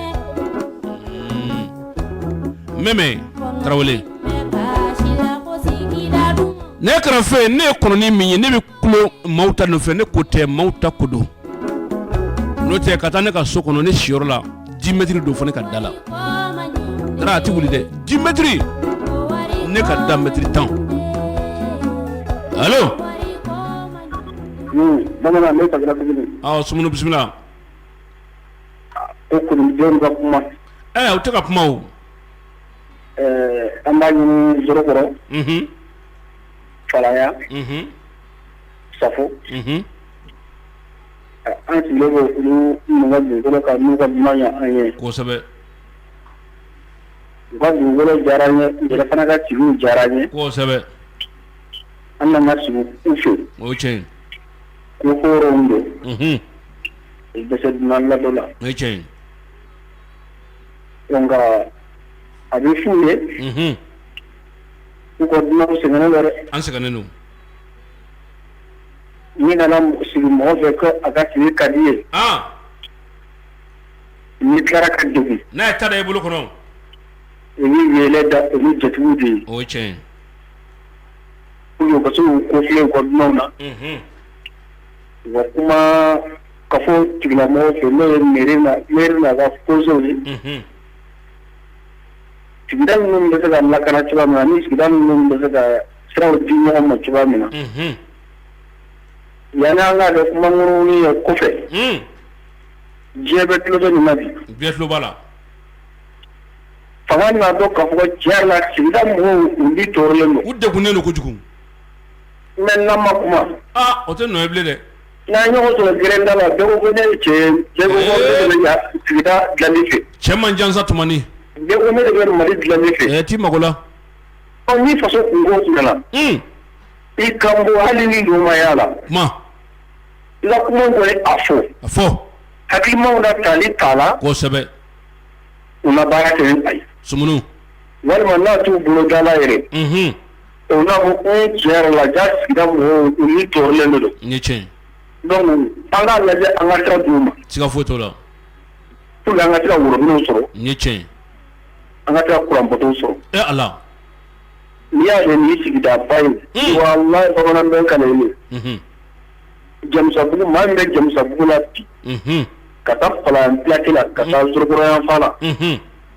Mɛmɛ Tarawele ne ye kɔrɔfɔ ye ne ye kɔnɔnin min ye ne maaw ta nɔfɛ ne ko tɛ maaw ta ko don n'o tɛ ka taa ne ka so kɔnɔ ne siyɔrɔ la dix mètres don fo ne ka da la Dara a tɛ wuli dɛ dix mètres ne ka da mɛtiri tan allo Sumunu bisimila u tɛ ka kuma an b'a ɲini Zorokɔrɔ Falaya Safo an sigilen bɛ olu ka dugukolo kan n'u ka ɲuman ye an ye kosɛbɛ u ka dugukolo diyara an ye u yɛrɛ fana ka sigi diyara an ye kosɛbɛ an nana ka sigi u fɛ o tiɲɛ ko hɔrɔnw don u bɛ se dunan ladon na o tiɲɛ donc a bɛ f'u ye u ka dunanw sɛgɛnnen don dɛ an sɛgɛnnen don min nana sigi mɔgɔ fɛ ko a ka sigi ka di ye ni kɛra ka dugu n'a ye taara i bolo kɔnɔ u yɛlɛ da u ni jatigiw de ye o tiɲɛ u ka so ko filɛ ko dunanw na wa kuma ka fɔ tigilamɔgɔ fɛ n'o ye mɛri mɛri n'a ka kɔnsɛyew ye sigida ninnu bɛ se ka lakana cogoya min na ani sigida ninnu bɛ se ka siraw di ɲɔgɔn ma cogoya min na unhun, yanni an k'a kɛ kumakolon-kolon ye kɔfɛ un, diɲɛ bɛɛ tulo bɛ nin na bi bɛɛ tulo b'a la fanga n'a dɔn k'a fɔ ko tiɲɛ yɛrɛ la sigida mɔgɔw u ni tɔɔrɔlen don u degunnen don kojugu mais n'an ma kuma aa o tɛ nɔ ye bilen dɛ N'a ɲɔgɔn sɔrɔ gda la cɛ cɛman jansa tuma ne bɛ mali dila fɛ tɛ mako la ni faso i ka hali ni ɲumanya la la bɛ a fɔ a fɔ hakilikilima na taa ni ta la kosɛbɛ u baara kɛ a ye s walima n'a t'u bolo dala yɛrɛ O na a fɔ ko tiɲɛ la ja sigida mɔgɔ nin tɔɔrɔlen don ni cɛ donc an ka lajɛ an ka sira d'u ma sika foyi t'o la pour que an ka tila robinɛw sɔrɔ ni cɛ an ka tila kuran potow sɔrɔ e a la n'i y'a ye nin sigida ba ye walayi bamanan bɛ ka ye Jamusabugu maa bɛ Jamusabugu la bi ka taa fala ka taa Zorokoro yanfan na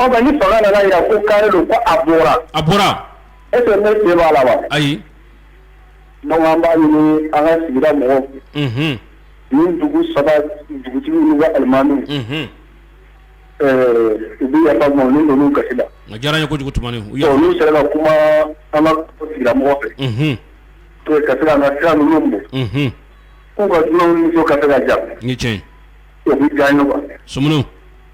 Ɔ nka ni fanga nana k'a jira ko kare don ko a bɔra a bɔra est-ce ne se b'a la wa ayi non an b'a ɲini an ka sigida mɔgɔw ni dugu saba dugutigi walima alimami u bɛ yafa an ma ni ninnu kasi la a diyara an ye kojugu Tumani olu sera ka kuma an ka sigida mɔgɔ fɛ to ka se ka an ka sira ninnu bɔ k'u ka duuru ka se ka ja ni cɛ o bɛ diya an ye wa Sumunu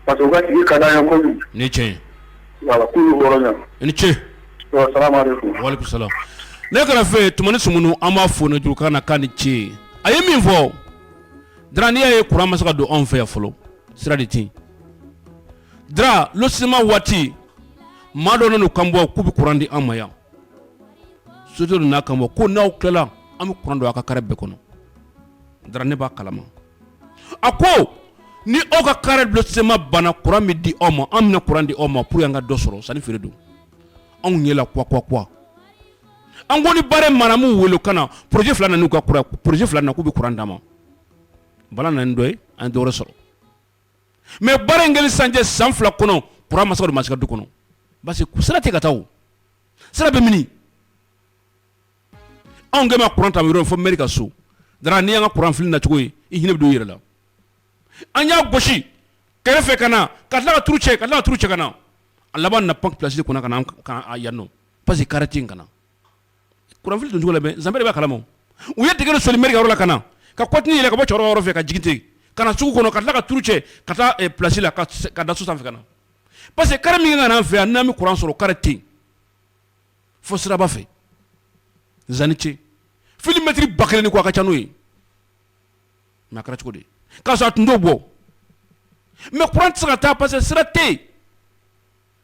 Pa ka ka da yan ko ni ce ni ce ne kana fɛ t s sun an b'a fɔ ne jurukan na kan ni ce a ye min fɔ dɔrɔnya ye k masa ka don anw fɛ yan fɔlɔ sira de ten dara sima waati maa dɔ n kan bɔ k'u bɛ kuran di an ma yan so n'a kan bɔ ko n'aw tilala an bɛ kuran don aw ka kari bɛɛ kɔnɔ dɔrɔn ne b'a kalama a ko ni aw ka kare lotissement banna kuran bɛ di aw ma an bɛna kuran di aw ma pour an ka dɔ sɔrɔ sani feere don anw ɲɛ la quoi quoi an kɔni baara Maramu wele ka na projet fila na u ka kuran projet fila na k'u bɛ kuran d'an ma Bala nana dɔ ye an ye dɔw sɔrɔ mɛ baara in kɛlen san cɛ san fila kɔnɔ kuran ma se ka don ma se ka don du kɔnɔ parce que sira tɛ ka taa sira bɛ mini anw kɛlen bɛ ka courant ta yɔrɔ min fo mairie ka so Dara n'i y'an ka courant fili nacogo ye i hinɛ bɛ don i yɛrɛ la an y'a gosi kɛrɛfɛ ka na ka tila ka turu cɛ ka tila ka turu cɛ ka na a laban na pan place kunna ka na ka a yan nɔ parce que kare tɛ yen ka na courant fili doncogo la mɛ an bɛɛ de b'a kalama u ye dingɛ de soli mairie ka yɔrɔ la ka na ka kɔtini yɛlɛ ka bɔ cɛkɔrɔba yɔrɔ fɛ ka jigin ten ka na sugu kɔnɔ ka tila ka turu cɛ ka taa eh, place la ka ka da so sanfɛ ka na parce que kare min ka na an fɛ yan n'an bɛ courant sɔrɔ kare tɛ yen fo siraba fɛ zani ce fili mɛtiri ba kelen ni kɔ a ka ca n'o ye mais a kɛra cogo di k'a sɔrɔ a tun t'o bɔ mais kuran tɛ se ka taa parce que sira tɛ yen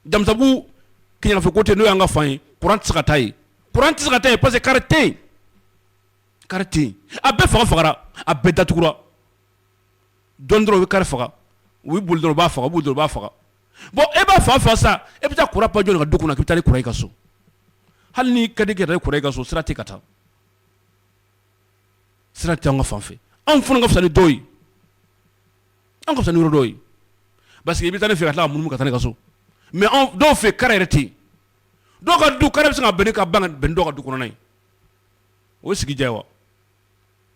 jamusabugu yan fɛ ko tɛ n'o y'an ka fan ye kuran tɛ se ka taa yen kuran tɛ se ka taa yen parce que kare tɛ yen kare tɛ yen a bɛɛ faga fagara a bɛɛ datugura dɔɔni dɔrɔn u bɛ kare faga u bɛ boli dɔrɔn u b'a faga u bɛ boli dɔrɔn u b'a faga bɔn e b'a fa fa sa e bɛ taa kuran pa jɔn ka du kɔnɔ k' taa kuran i ka so hali n'i ka di kɛra kuran i ka so sira tɛ ka taa sira tɛ an ka fanfɛ anw fana ka fisa ni dɔw ye an ka fisa ni yɔrɔ dɔw ye parce que i bɛ taa ne fɛ ka taa mun ka taa ne ka so mais dɔw fɛ kare yɛrɛ tɛ yen dɔw ka du kare bɛ se ka bɛn ka ban bɛn dɔw ka du kɔnɔna ye o sigi diya wa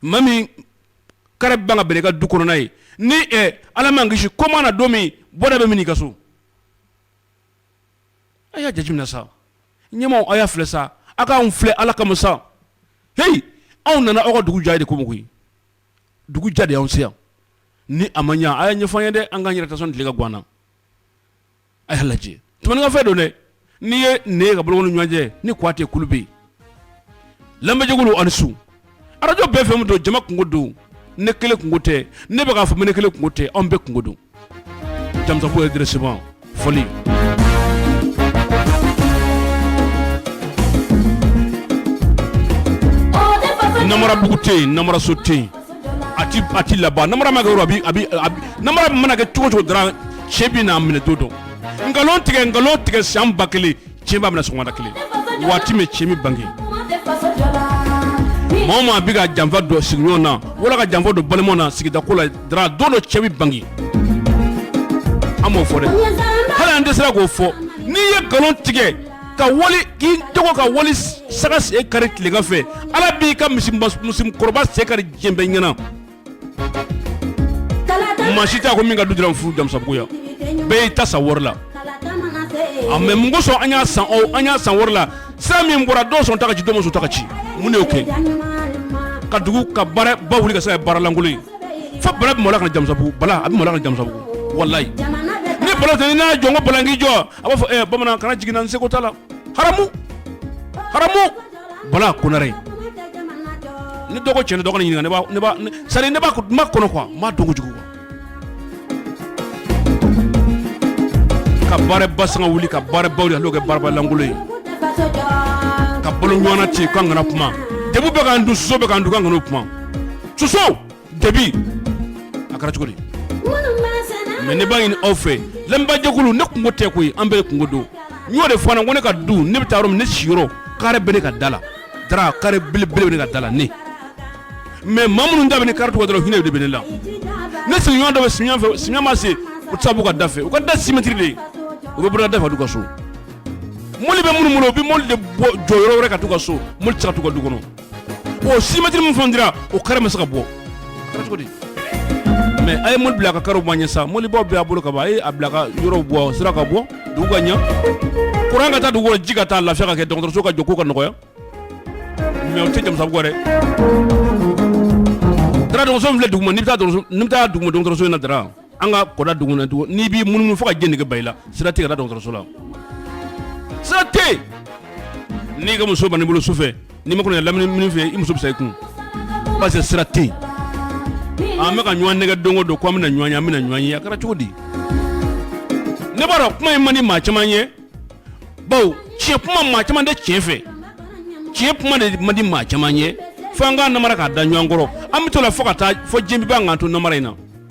maa min kare ban bɛn i ka du kɔnɔna ye ni ala m'an kisi ko mana don min bɔda bɛ min i ka so a y'a jateminɛ sa ɲɛmaaw aw y'a filɛ sa aw k'an filɛ ala kama sa heyi anw nana aw ka dugu ja de kama koyi dugu ja de anw si ni a ma ɲɛ a y'a ɲɛfɔ an ye dɛ an k'an yɛrɛ ta sani tile ka gan an na A y'a lajɛ tumani ka fɛn don dɛ n'i ye ne ka bolo ɲɔgɔnjɛ ni kuyate kulu bɛɛ lamɛnbaa jɛkulu ani su arajo bɛɛ fɛn min don jama kunko don ne kelen kunko tɛ ne bɛ k'a fɔ ne kelen kunko tɛ anw bɛɛ kunko don jamusabugu redressement fɔli namarabugu tɛ yen namaraso tɛ yen a ti a ti laban namara ma kɛ yɔrɔ a bi a bi a bi namara mana kɛ cogo cogo dɔrɔn cɛn bi n'a minɛ don dɔ nkalon tigɛ nkalon tigɛ san ba kelen cɛn b'a minɛ sɔgɔmada kelen waati min cɛn bi bange maa o maa bi ka janfa don sigiɲɔgɔn na wala ka janfa don balimaw na sigida ko la dɔrɔn don dɔ cɛn bi bange an b'o fɔ dɛ hali an dɛsɛra k'o fɔ n'i ye nkalon tigɛ ka wuli k'i jɔ ka wali saga sen kari tilegan fɛ ala b'i ka misi musokɔrɔba sen kari diɲɛ bɛɛ ɲɛ na maa si tɛ ko min ka du dɔrɔn fo jamusabugu yan bɛɛ y'i ta san wari la a mais mun kosɔn an y'a san an y'a san wari la sira min bɔra dɔw sɔn ta ka ci dɔw ma sɔn ta ka ci mun de y'o kɛ ka dugu ka baara ba wuli ka se baaralankolon ye fo bala bɛ maloya ka na jamusabugu bala a bɛ maloya ka na jamusabugu walayi ni bala n'a jɔ n ko bala k'i jɔ a b'a fɔ bamanan kana jigi n na n seko t'a la haramu bala konare ne dɔgɔcɛ ne dɔgɔ ɲininka ne ne b'a makɔnɔ quoi m'a dɔn kojugu ka baara ba sanga wuli ka baara baw la n'o kɛ baaralankolon ye ka balo ɲɔgɔn ci k'an kana kuma dabi bɛ k'an dun soso bɛ k'an dun k'an kana kuma soso debi a kɛra cogo di mais ne b'a ɲini aw fɛ lamɛnbajɛkulu ne kunko tɛ koyi an bɛɛ kunko don n y'o de fɔ a na ko ne ka du ne bɛ taa yɔrɔ min ne siyɔrɔ kare bɛ ne ka da la Dara kare belebele bɛ ne ka da la ne mais maa minnu da ni kare dɔrɔn hinɛ de bɛ ne la ne sigiɲɔgɔn dɔ bɛ si ma se u tɛ se ka b'u ka da fɛ u ka da six mètres de u bɛ bɔ da fɛ ka t'u ka so mɔbili bɛ minnu bolo u bɛ mɔbili de jɔ yɔrɔ wɛrɛ ka t'u ka so mɔbili tɛ se ka t'u ka du kɔnɔ o six mètres min fana dira o kare ma se ka bɔ a kɛra cogo di mais a ye mɔbili bila a ka karew bɔ an ɲɛ sa mɔbilibaw bɛ a bolo kaban a ye a bila ka yɔrɔ bɔ sira ka bɔ dugu ka ɲɛ kuran ka taa dugu kɔnɔ ji ka taa lafiya ka kɛ dɔgɔtɔrɔso ka jɔ ko ka nɔgɔya mais o tɛ Jamusabugu dɛ Dara dɔgɔtɔrɔso min filɛ duguma n'i bɛ taa duguma dɔgɔtɔrɔso in na Dara An ka kɔda dugu na tugun n'i b'i munumunu fo ka jɛn nege ban i la sira tɛ yen ka taa dɔgɔtɔrɔso la, sira tɛ yen, n'i ka muso banna i bolo sufɛ n'i ma kɔlɔsi lamini mini fɛ i muso bɛ sa i kun parce que sira tɛ yen, ɔ an bɛ ka ɲɔgɔn nɛgɛ don o don ko an bɛna ɲɔgɔn ye an bɛna ɲɔgɔn ye a kɛra cogo di, ne b'a dɔn kuma in man di maa caman ye bawo tiɲɛ kuma maa caman tɛ tiɲɛ fɛ, tiɲɛ kuma de man di maa caman ye fo an k'a namara k'a da ɲɔgɔn kɔrɔ, an bɛ t'o la fo ka taa fo diɲɛ bɛ ban k'an to namara in na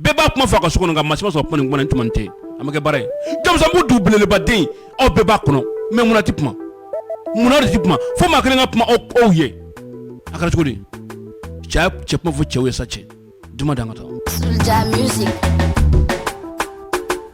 bɛɛ b'a kuma fɔ a ka so kɔnɔ nka maa si ma sɔn ka kuma nin kuma nin tuma nin tɛ a ma kɛ baara ye Jamusabugu dugu belebeleba dɛ aw bɛɛ b'a kɔnɔ mais mun na tɛ kuma mun na de tɛ kuma fo maa kelen ka kuma o ye a kɛra cogo di sa cɛ kuma fɔ cɛw ye sa cɛ duman dan ka taa.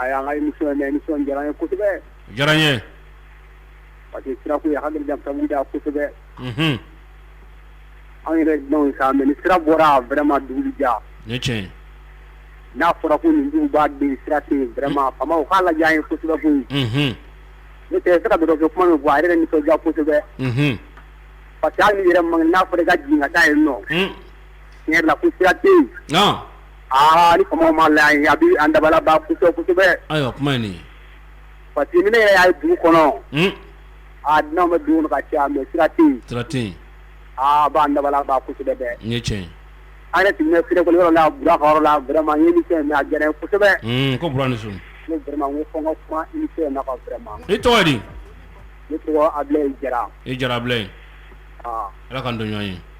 A y'an ka émission in mɛn émission in diyara an ye kosɛbɛ, a diyara an ye, parce que sira ko in a ka gɛlɛn Jamusabugu la kosɛbɛ, unhun, anw yɛrɛ ye dunanw ye sa mais ni sira bɔra vraiment dugu bɛ diya, o ye tiɲɛ ye, n'a fɔra ko nin duguba dɛ sira tɛ yen vraiment faamaw u k'a lajɛ an ye kosɛbɛ koyi, unhun, ne tɛ se ka bɛrɛ fɔ kuma min fɔ a yɛrɛ bɛ nisɔndiya kosɛbɛ, unhun, parce que hali n'i yɛrɛ man kɛnɛ n'a fɔra i ka jigin ka taa yen nɔ tiɲɛ yɛrɛ la ko sira tɛ yen, an, aa ni faamaw m'a lajɛ an ye a bɛ an dabali ban kosɛbɛ kosɛbɛ, ayiwa kuma ye nin ye, parce que ni ne yɛrɛ y'a ye dugu kɔnɔ, un, aa dunan bɛ dugu kɔnɔ ka caya mais sira tɛ yen, sira tɛ yen, aa a b'an dabali ban kosɛbɛ dɛ, nin ye tiɲɛ ye, an yɛrɛ tun bɛ Serekoli yɔrɔ la Bura ka yɔrɔ la vraiment n ye émission in mɛn a diyara n ye kosɛbɛ, un, ko Bura ni su, n ko vraiment n ko fɔ n ka kuma émission in na quoi vraiment i tɔgɔ di? Ne tɔgɔ Abilaye Jara, i Jara Abilaye, ɔɔ, Ala k'an to ɲɔgɔn ye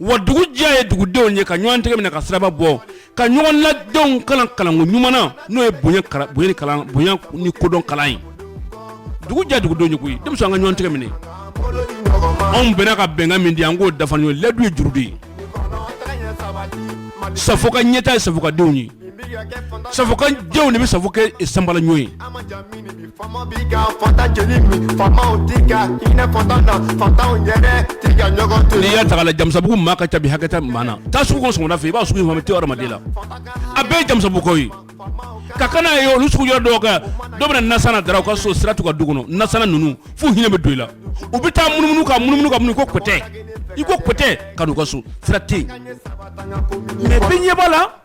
wa dugu diya ye dugudenw ye ka ɲɔgɔn tɛgɛ minɛ ka siraba bɔ ka ɲɔgɔn la denw kalan kalanko ɲuman na n'o ye bonya ni kodɔn kalan ye dugu diya dugudenw ye koyi denmisɛnw an ka ɲɔgɔn tɛgɛ minɛ anw bɛnna ka bɛnkan min di an k'o dafa ɲɔgɔn ye layidu ye juru de ye Safo ka ɲɛtaa ye Safokadenw ye Safo ka denw de bɛ Safo kɛ sanbala ɲɔgɔn ye n'i y'a ta k'a lajɛ Jamusabugu maa ka ca hakɛ tɛ maa na taa sugu kɔnɔ sɔgɔma fɛ i b'a sɔrɔ ma to hadamaden la a bɛɛ Jamusabugukaw ye ka kana ye olu sugu yɔrɔ dɔw kɛ dɔw bɛ na nasan Dara u ka so sira t'u ka du kɔnɔ nasanna ninnu f'u hinɛ bɛ don i la u bɛ taa munumunu ka munumunu ka mun ko kotɛ i ko kotɛ ka n'u ka so sira tɛ yen b'a la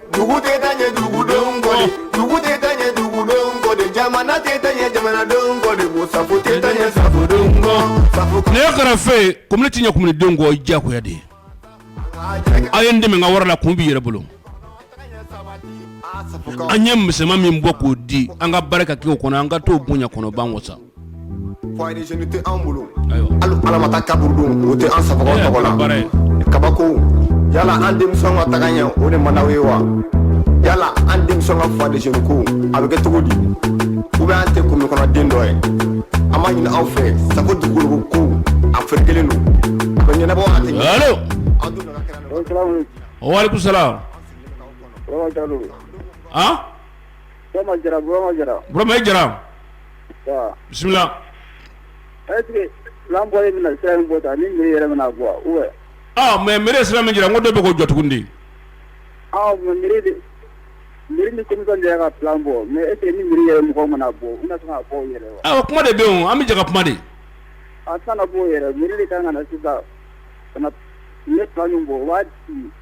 dugu tɛ taa ɲɛ dugudenw kɔ de dugu tɛ taa ɲɛ dugudenw kɔ de jamana tɛ taa ɲɛ jamanadenw kɔ de ko safo tɛ taa ɲɛ safodenw kɔ safo ne ye karafe ye komini tɛ ɲɛ kominidenw kɔ diyagoya de ye aw ye n dɛmɛ n ka wari la kun b'i yɛrɛ bolo an ye misɛnman min bɔ k'o di an ka baara ka kɛ o kɔnɔ an ka t'o bonya kɔnɔ b'an wasa Foyer des jeunes tɛ an bolo, ayiwa, hali haramata kaburudo o tɛ an Safokaw tɔgɔ la, o ye baara ye, kabako yala an denmisɛnw ka taga ɲɛ o de man di aw ye wa? yala an denmisɛnw ka foyer des jeunes ko a bɛ kɛ cogo di? ou bien an tɛ commune kɔnɔ den dɔ ye? an b'a ɲini aw fɛ Safo dugukolo ko a ferekelen don, a bɛ ɲɛnabɔ wa a tɛ ɲɛnabɔ? Allo! Aw dun nana kɛnɛ kan. Walekum salam! An! Burama Jara, Burama Jara. Burama i Jara. Ɔɔ! Bisimila! Est ce que plan bɔlen bɛna sira min bɔ tan ni mairie yɛrɛ bɛna a bɔ wa ou bien? Ɔɔ! Mais mairie ye sira min jira n ko dɔ bɛ k'o jɔ tuguni de. Ɔɔ! Mais mairie de, mairie ni commission de y'a ka plan bɔ mais est ce que ni mairie yɛrɛ mɔgɔw mana bɔ, u bɛna se k'a bɔ u yɛrɛ ye wa? Awɔ! Kuma de bɛ yen o, an bɛ jɛ ka kuma de. A tɛna na bɔ u yɛrɛ, mairie de ka kan ka na sisan ka na u ye plan min bɔ u b'a di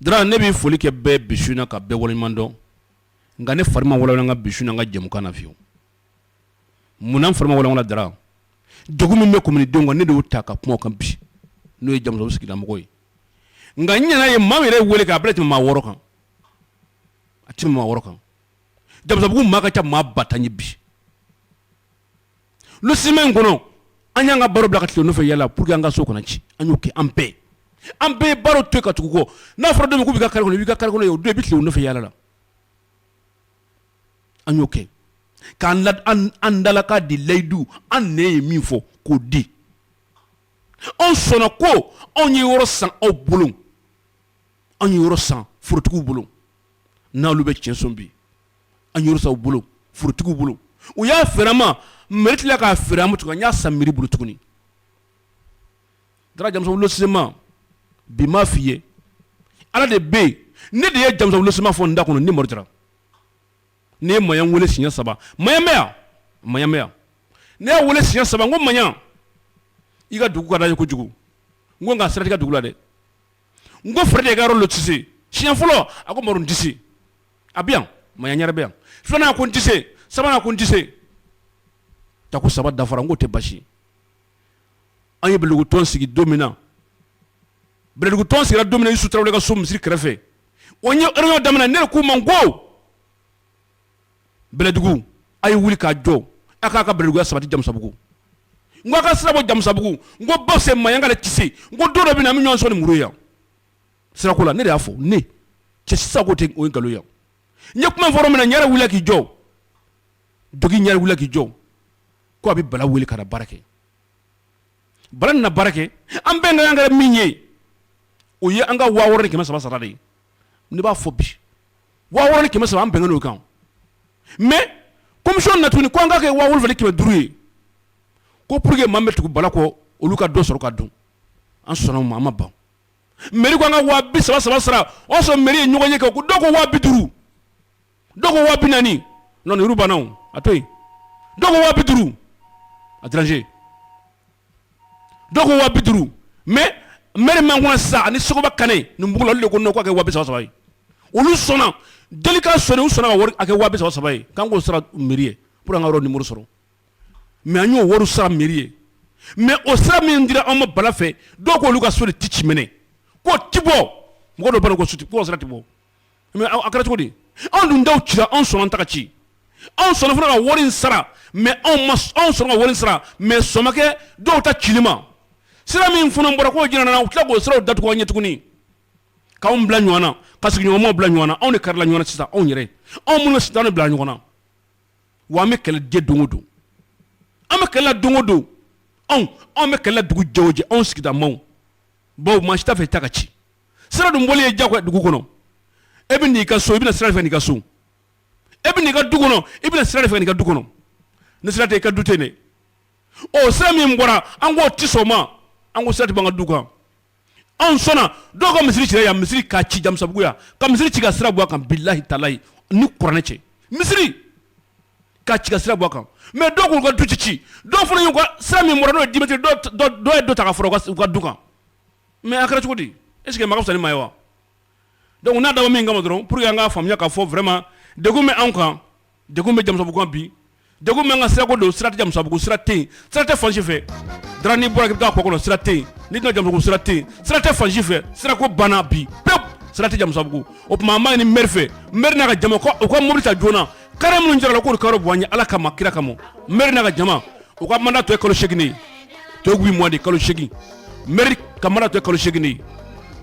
Dara ne bɛ foli kɛ bɛɛ bi su in na ka bɛɛ waleɲuman dɔn nka ne fari ma walawala n ka bi su in na ka jɛmukan na fiyewu munna n fari ma walawala Dara jugu min bɛ kominidenw kan ne de ta ka kuma o kan bi n'o ye Jamusabugu sigidamɔgɔw ye nka ɲɛna ye maa yɛrɛ weele k'a bɛɛ tɛmɛ maa wɔɔrɔ kan a tɛ tɛmɛ maa wɔɔrɔ kan Jamusabugu maa ka ca maa ba tan ni bi lu semaine in kɔnɔ an y'an ka baara bila ka tile nɔfɛ yala pour que an ka so kana ci an y'o kɛ an bɛɛ an bɛɛ ye baara to yen ka tugu kɔ n'a fɔra don min k'u b'i ka kare kɔnɔ i b'i ka kare kɔnɔ ye o don i bɛ tile nɔfɛ yala la an y'o kɛ k'an la an dalakan di layidu an ne ye min fɔ k'o di anw sɔnna ko anw ye yɔrɔ san aw bolo anw ye yɔrɔ san forotigiw bolo n'olu bɛ tiɲɛ sɔn bi an ye yɔrɔ san aw bolo forotigiw bolo u y'a feere an ma mairie tila k'a feere an ma an y'a san mairie bolo tuguni Dara Jamusabugu lotissement bi m'a f'i ye ala de bɛ yen ne de ye Jamusabugu lotissement fɔ n da kɔnɔ ni Mɔri Jara ne ye Maɲan weele siɲɛ saba Maɲan bɛ yan ne y'a weele siɲɛ saba n ko Maɲan i ka dugu ka d'an ye kojugu n ko nka sira t'i ka dugu la dɛ n ko fari de i ka yɔrɔ lotissé siɲɛ fɔlɔ a ko tɛse a bɛ yan maɲan yɛrɛ bɛ yan filanan ko n tɛ se sabanan ko n tɛ se tako saba dafara n ko tɛ basi an ye bɛlɛdugutɔn sigi don min na bɛlɛdugutɔn sigira don min na isu tarawele ka so misiri kɛrɛfɛ o ye réunion daminɛ ne k'u ma ko bɛlɛdugu a ye wuli k'a jɔ a k'a ka bɛlɛdugu sabati jamusabugu n ko a ka sira bɔ jamusabugu n ko bawo maɲan kelen tɛ se n ko don dɔ bɛ na an bɛ ɲɔgɔn sɔgɔ ni muru ye yan sirako la ne de y'a fɔ ne cɛ sisan ko tɛ o ye nkalon ye n ye kuma fɔ yɔrɔ min na n yɛrɛ wuli k'i jɔ dogin n yɛrɛ wuli k'i jɔ ko a bɛ bala wele ka na baara kɛ bala nana baara kɛ an bɛnkan kɛra min ye o ye an ka waa wɔɔrɔ ni kɛmɛ saba sara de ye ne b'a fɔ bi waa wɔɔrɔ ni kɛmɛ saba an bɛnna o kan mais commission na tuguni ko an k'a kɛ waa wolonwula ni kɛmɛ duuru ye ko pour que maa min bɛ tugu bala kɔ olu ka dɔ sɔrɔ ka dun an sɔnna o ma an ma ban mairie ko an ka waa bi saba saba sara o y'a sɔrɔ mairie ye ɲɔgɔn ye kɛ ko dɔw ko waa bi duuru dɔw ko waa bi naani non nin yɔrɔ banna o a to yen dɔw ko waa bi duuru a déranger dɔw ko waa bi duuru mais maire min b'an kunna sisan ani Sogoba Kane nin bugu la olu de ko non k'a kɛ waa bi saba saba ye olu sɔnna délégation u sɔnna ka wari a kɛ waa bi saba saba ye k'an k'o sara mairie ye pour que an ka yɔrɔ numéro sɔrɔ. mais an y'o wari sara mairie ye mais o sira min dira an ma bala fɛ dɔw ko olu ka so de tɛ ci minɛ ko tɛ bɔ mɔgɔ dɔ ko so ti sira tɛ bɔ mais a kɛra cogo di anw dun ta cira anw sɔnna an ta ka ci anw sɔnna fana ka wari sara mais anw sɔnna ka wari sara mais sɔn ma kɛ dɔw ta cili ma sira min fana bɔra k'o jira an na u tila k'o siraw datugu an ɲɛ tuguni k'an bila ɲɔgɔn na ka sigiɲɔgɔnw bila ɲɔgɔn na anw de karila ɲɔgɔn na sisan anw yɛrɛ anw minnu sitan bila ɲɔgɔn na wa an bɛ kɛlɛ de don o don an bɛ kɛlɛ la don o don anw anw bɛ kɛlɛ la dugu jɛ o jɛ anw sigida maaw bawo maa si t'a fɛ i ta ka ci sira dun bɔli ye jagoya dugu kɔnɔ e bɛ n'i ka so i bɛ na sira de fɛ n'i ka so e bɛ n'i ka du kɔnɔ i bɛ na sira de fɛ n'i ka du kɔnɔ ni sira tɛ i ka du tɛ yen ɔ sira min bɔra an k'o tɛ sɔn o ma an ko sira tɛ b'an ka du kan anw sɔnna dɔw ka misiri cira yan misiri k'a ci jamusabugu yan ka misiri ci ka sira bɔ a kan bilahi talahi ni kuranɛ cɛ misiri ka ci ka sira bɔ a kan mais dɔw k'u ka du tɛ ci dɔw fana y'u ka sira min bɔra n'o ye dix mètres dɔw ye dɔ ta ka fara u ka du kan mais a kɛra cogo di est ce que maa ka fisa ni maa ye wa donc n'a dabɔ min kama dɔrɔn pour que an k'a faamuya k'a fɔ vraiment degun bɛ anw kan Degun bɛ jamusabugu kan bi degun bɛ an kan sirako don sira tɛ jamusabugu sira tɛ yen sira tɛ fan si fɛ n'i bɔra k'i bɛ taa kɔ kɔnɔ sira tɛ yen n'i bɛ na jamusabugu sira tɛ yen sira tɛ fan si fɛ sirako banna bi pewu sira tɛ jamusabugu o tuma an b'a ɲini maire fɛ maire n'a ka jama u ka mobili ta joona carré minnu jirala k'olu ka yɔrɔ bɔ an ye ala kama kira kama maire n'a ka jama u ka manda tɔ ye kalo segin ye tɔ ye huit mois de kalo segin mɛri ka manda tɔ ye kalo segin ye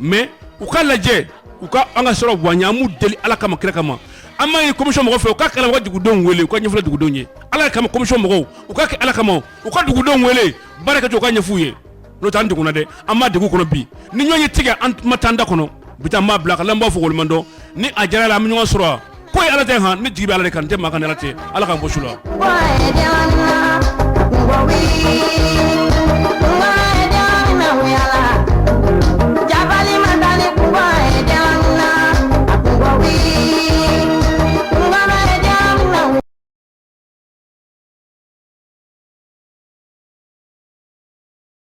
mɛ u k'a lajɛ u ka an ka siraw bɔ an ye an b'u deli ala kama kira kama an b'a ɲini komisiyɔn mɔgɔw fɛ u k'a kɛ u ka dugudenw wele u ka ɲɛfɔ dugudenw ye ala kama komisiyɔn mɔgɔw u k'a kɛ ala kama u ka dugudenw wele baara kɛcogo u k'a ɲɛf'u ye n'o tɛ an degunna dɛ an bɛ degun kɔnɔ bi ni ɲɔgɔn ye tigɛ an ma taa an da kɔnɔ bi taa an b'a bila ka n'an b'a fɔ woloma don ni a diyara ala ye an bɛ ɲɔgɔn sɔrɔ wa ko ye ala ta ye han ne jigi bɛ ala de kan n tɛ maa kan ni ala tɛ ala k'an bɔ su la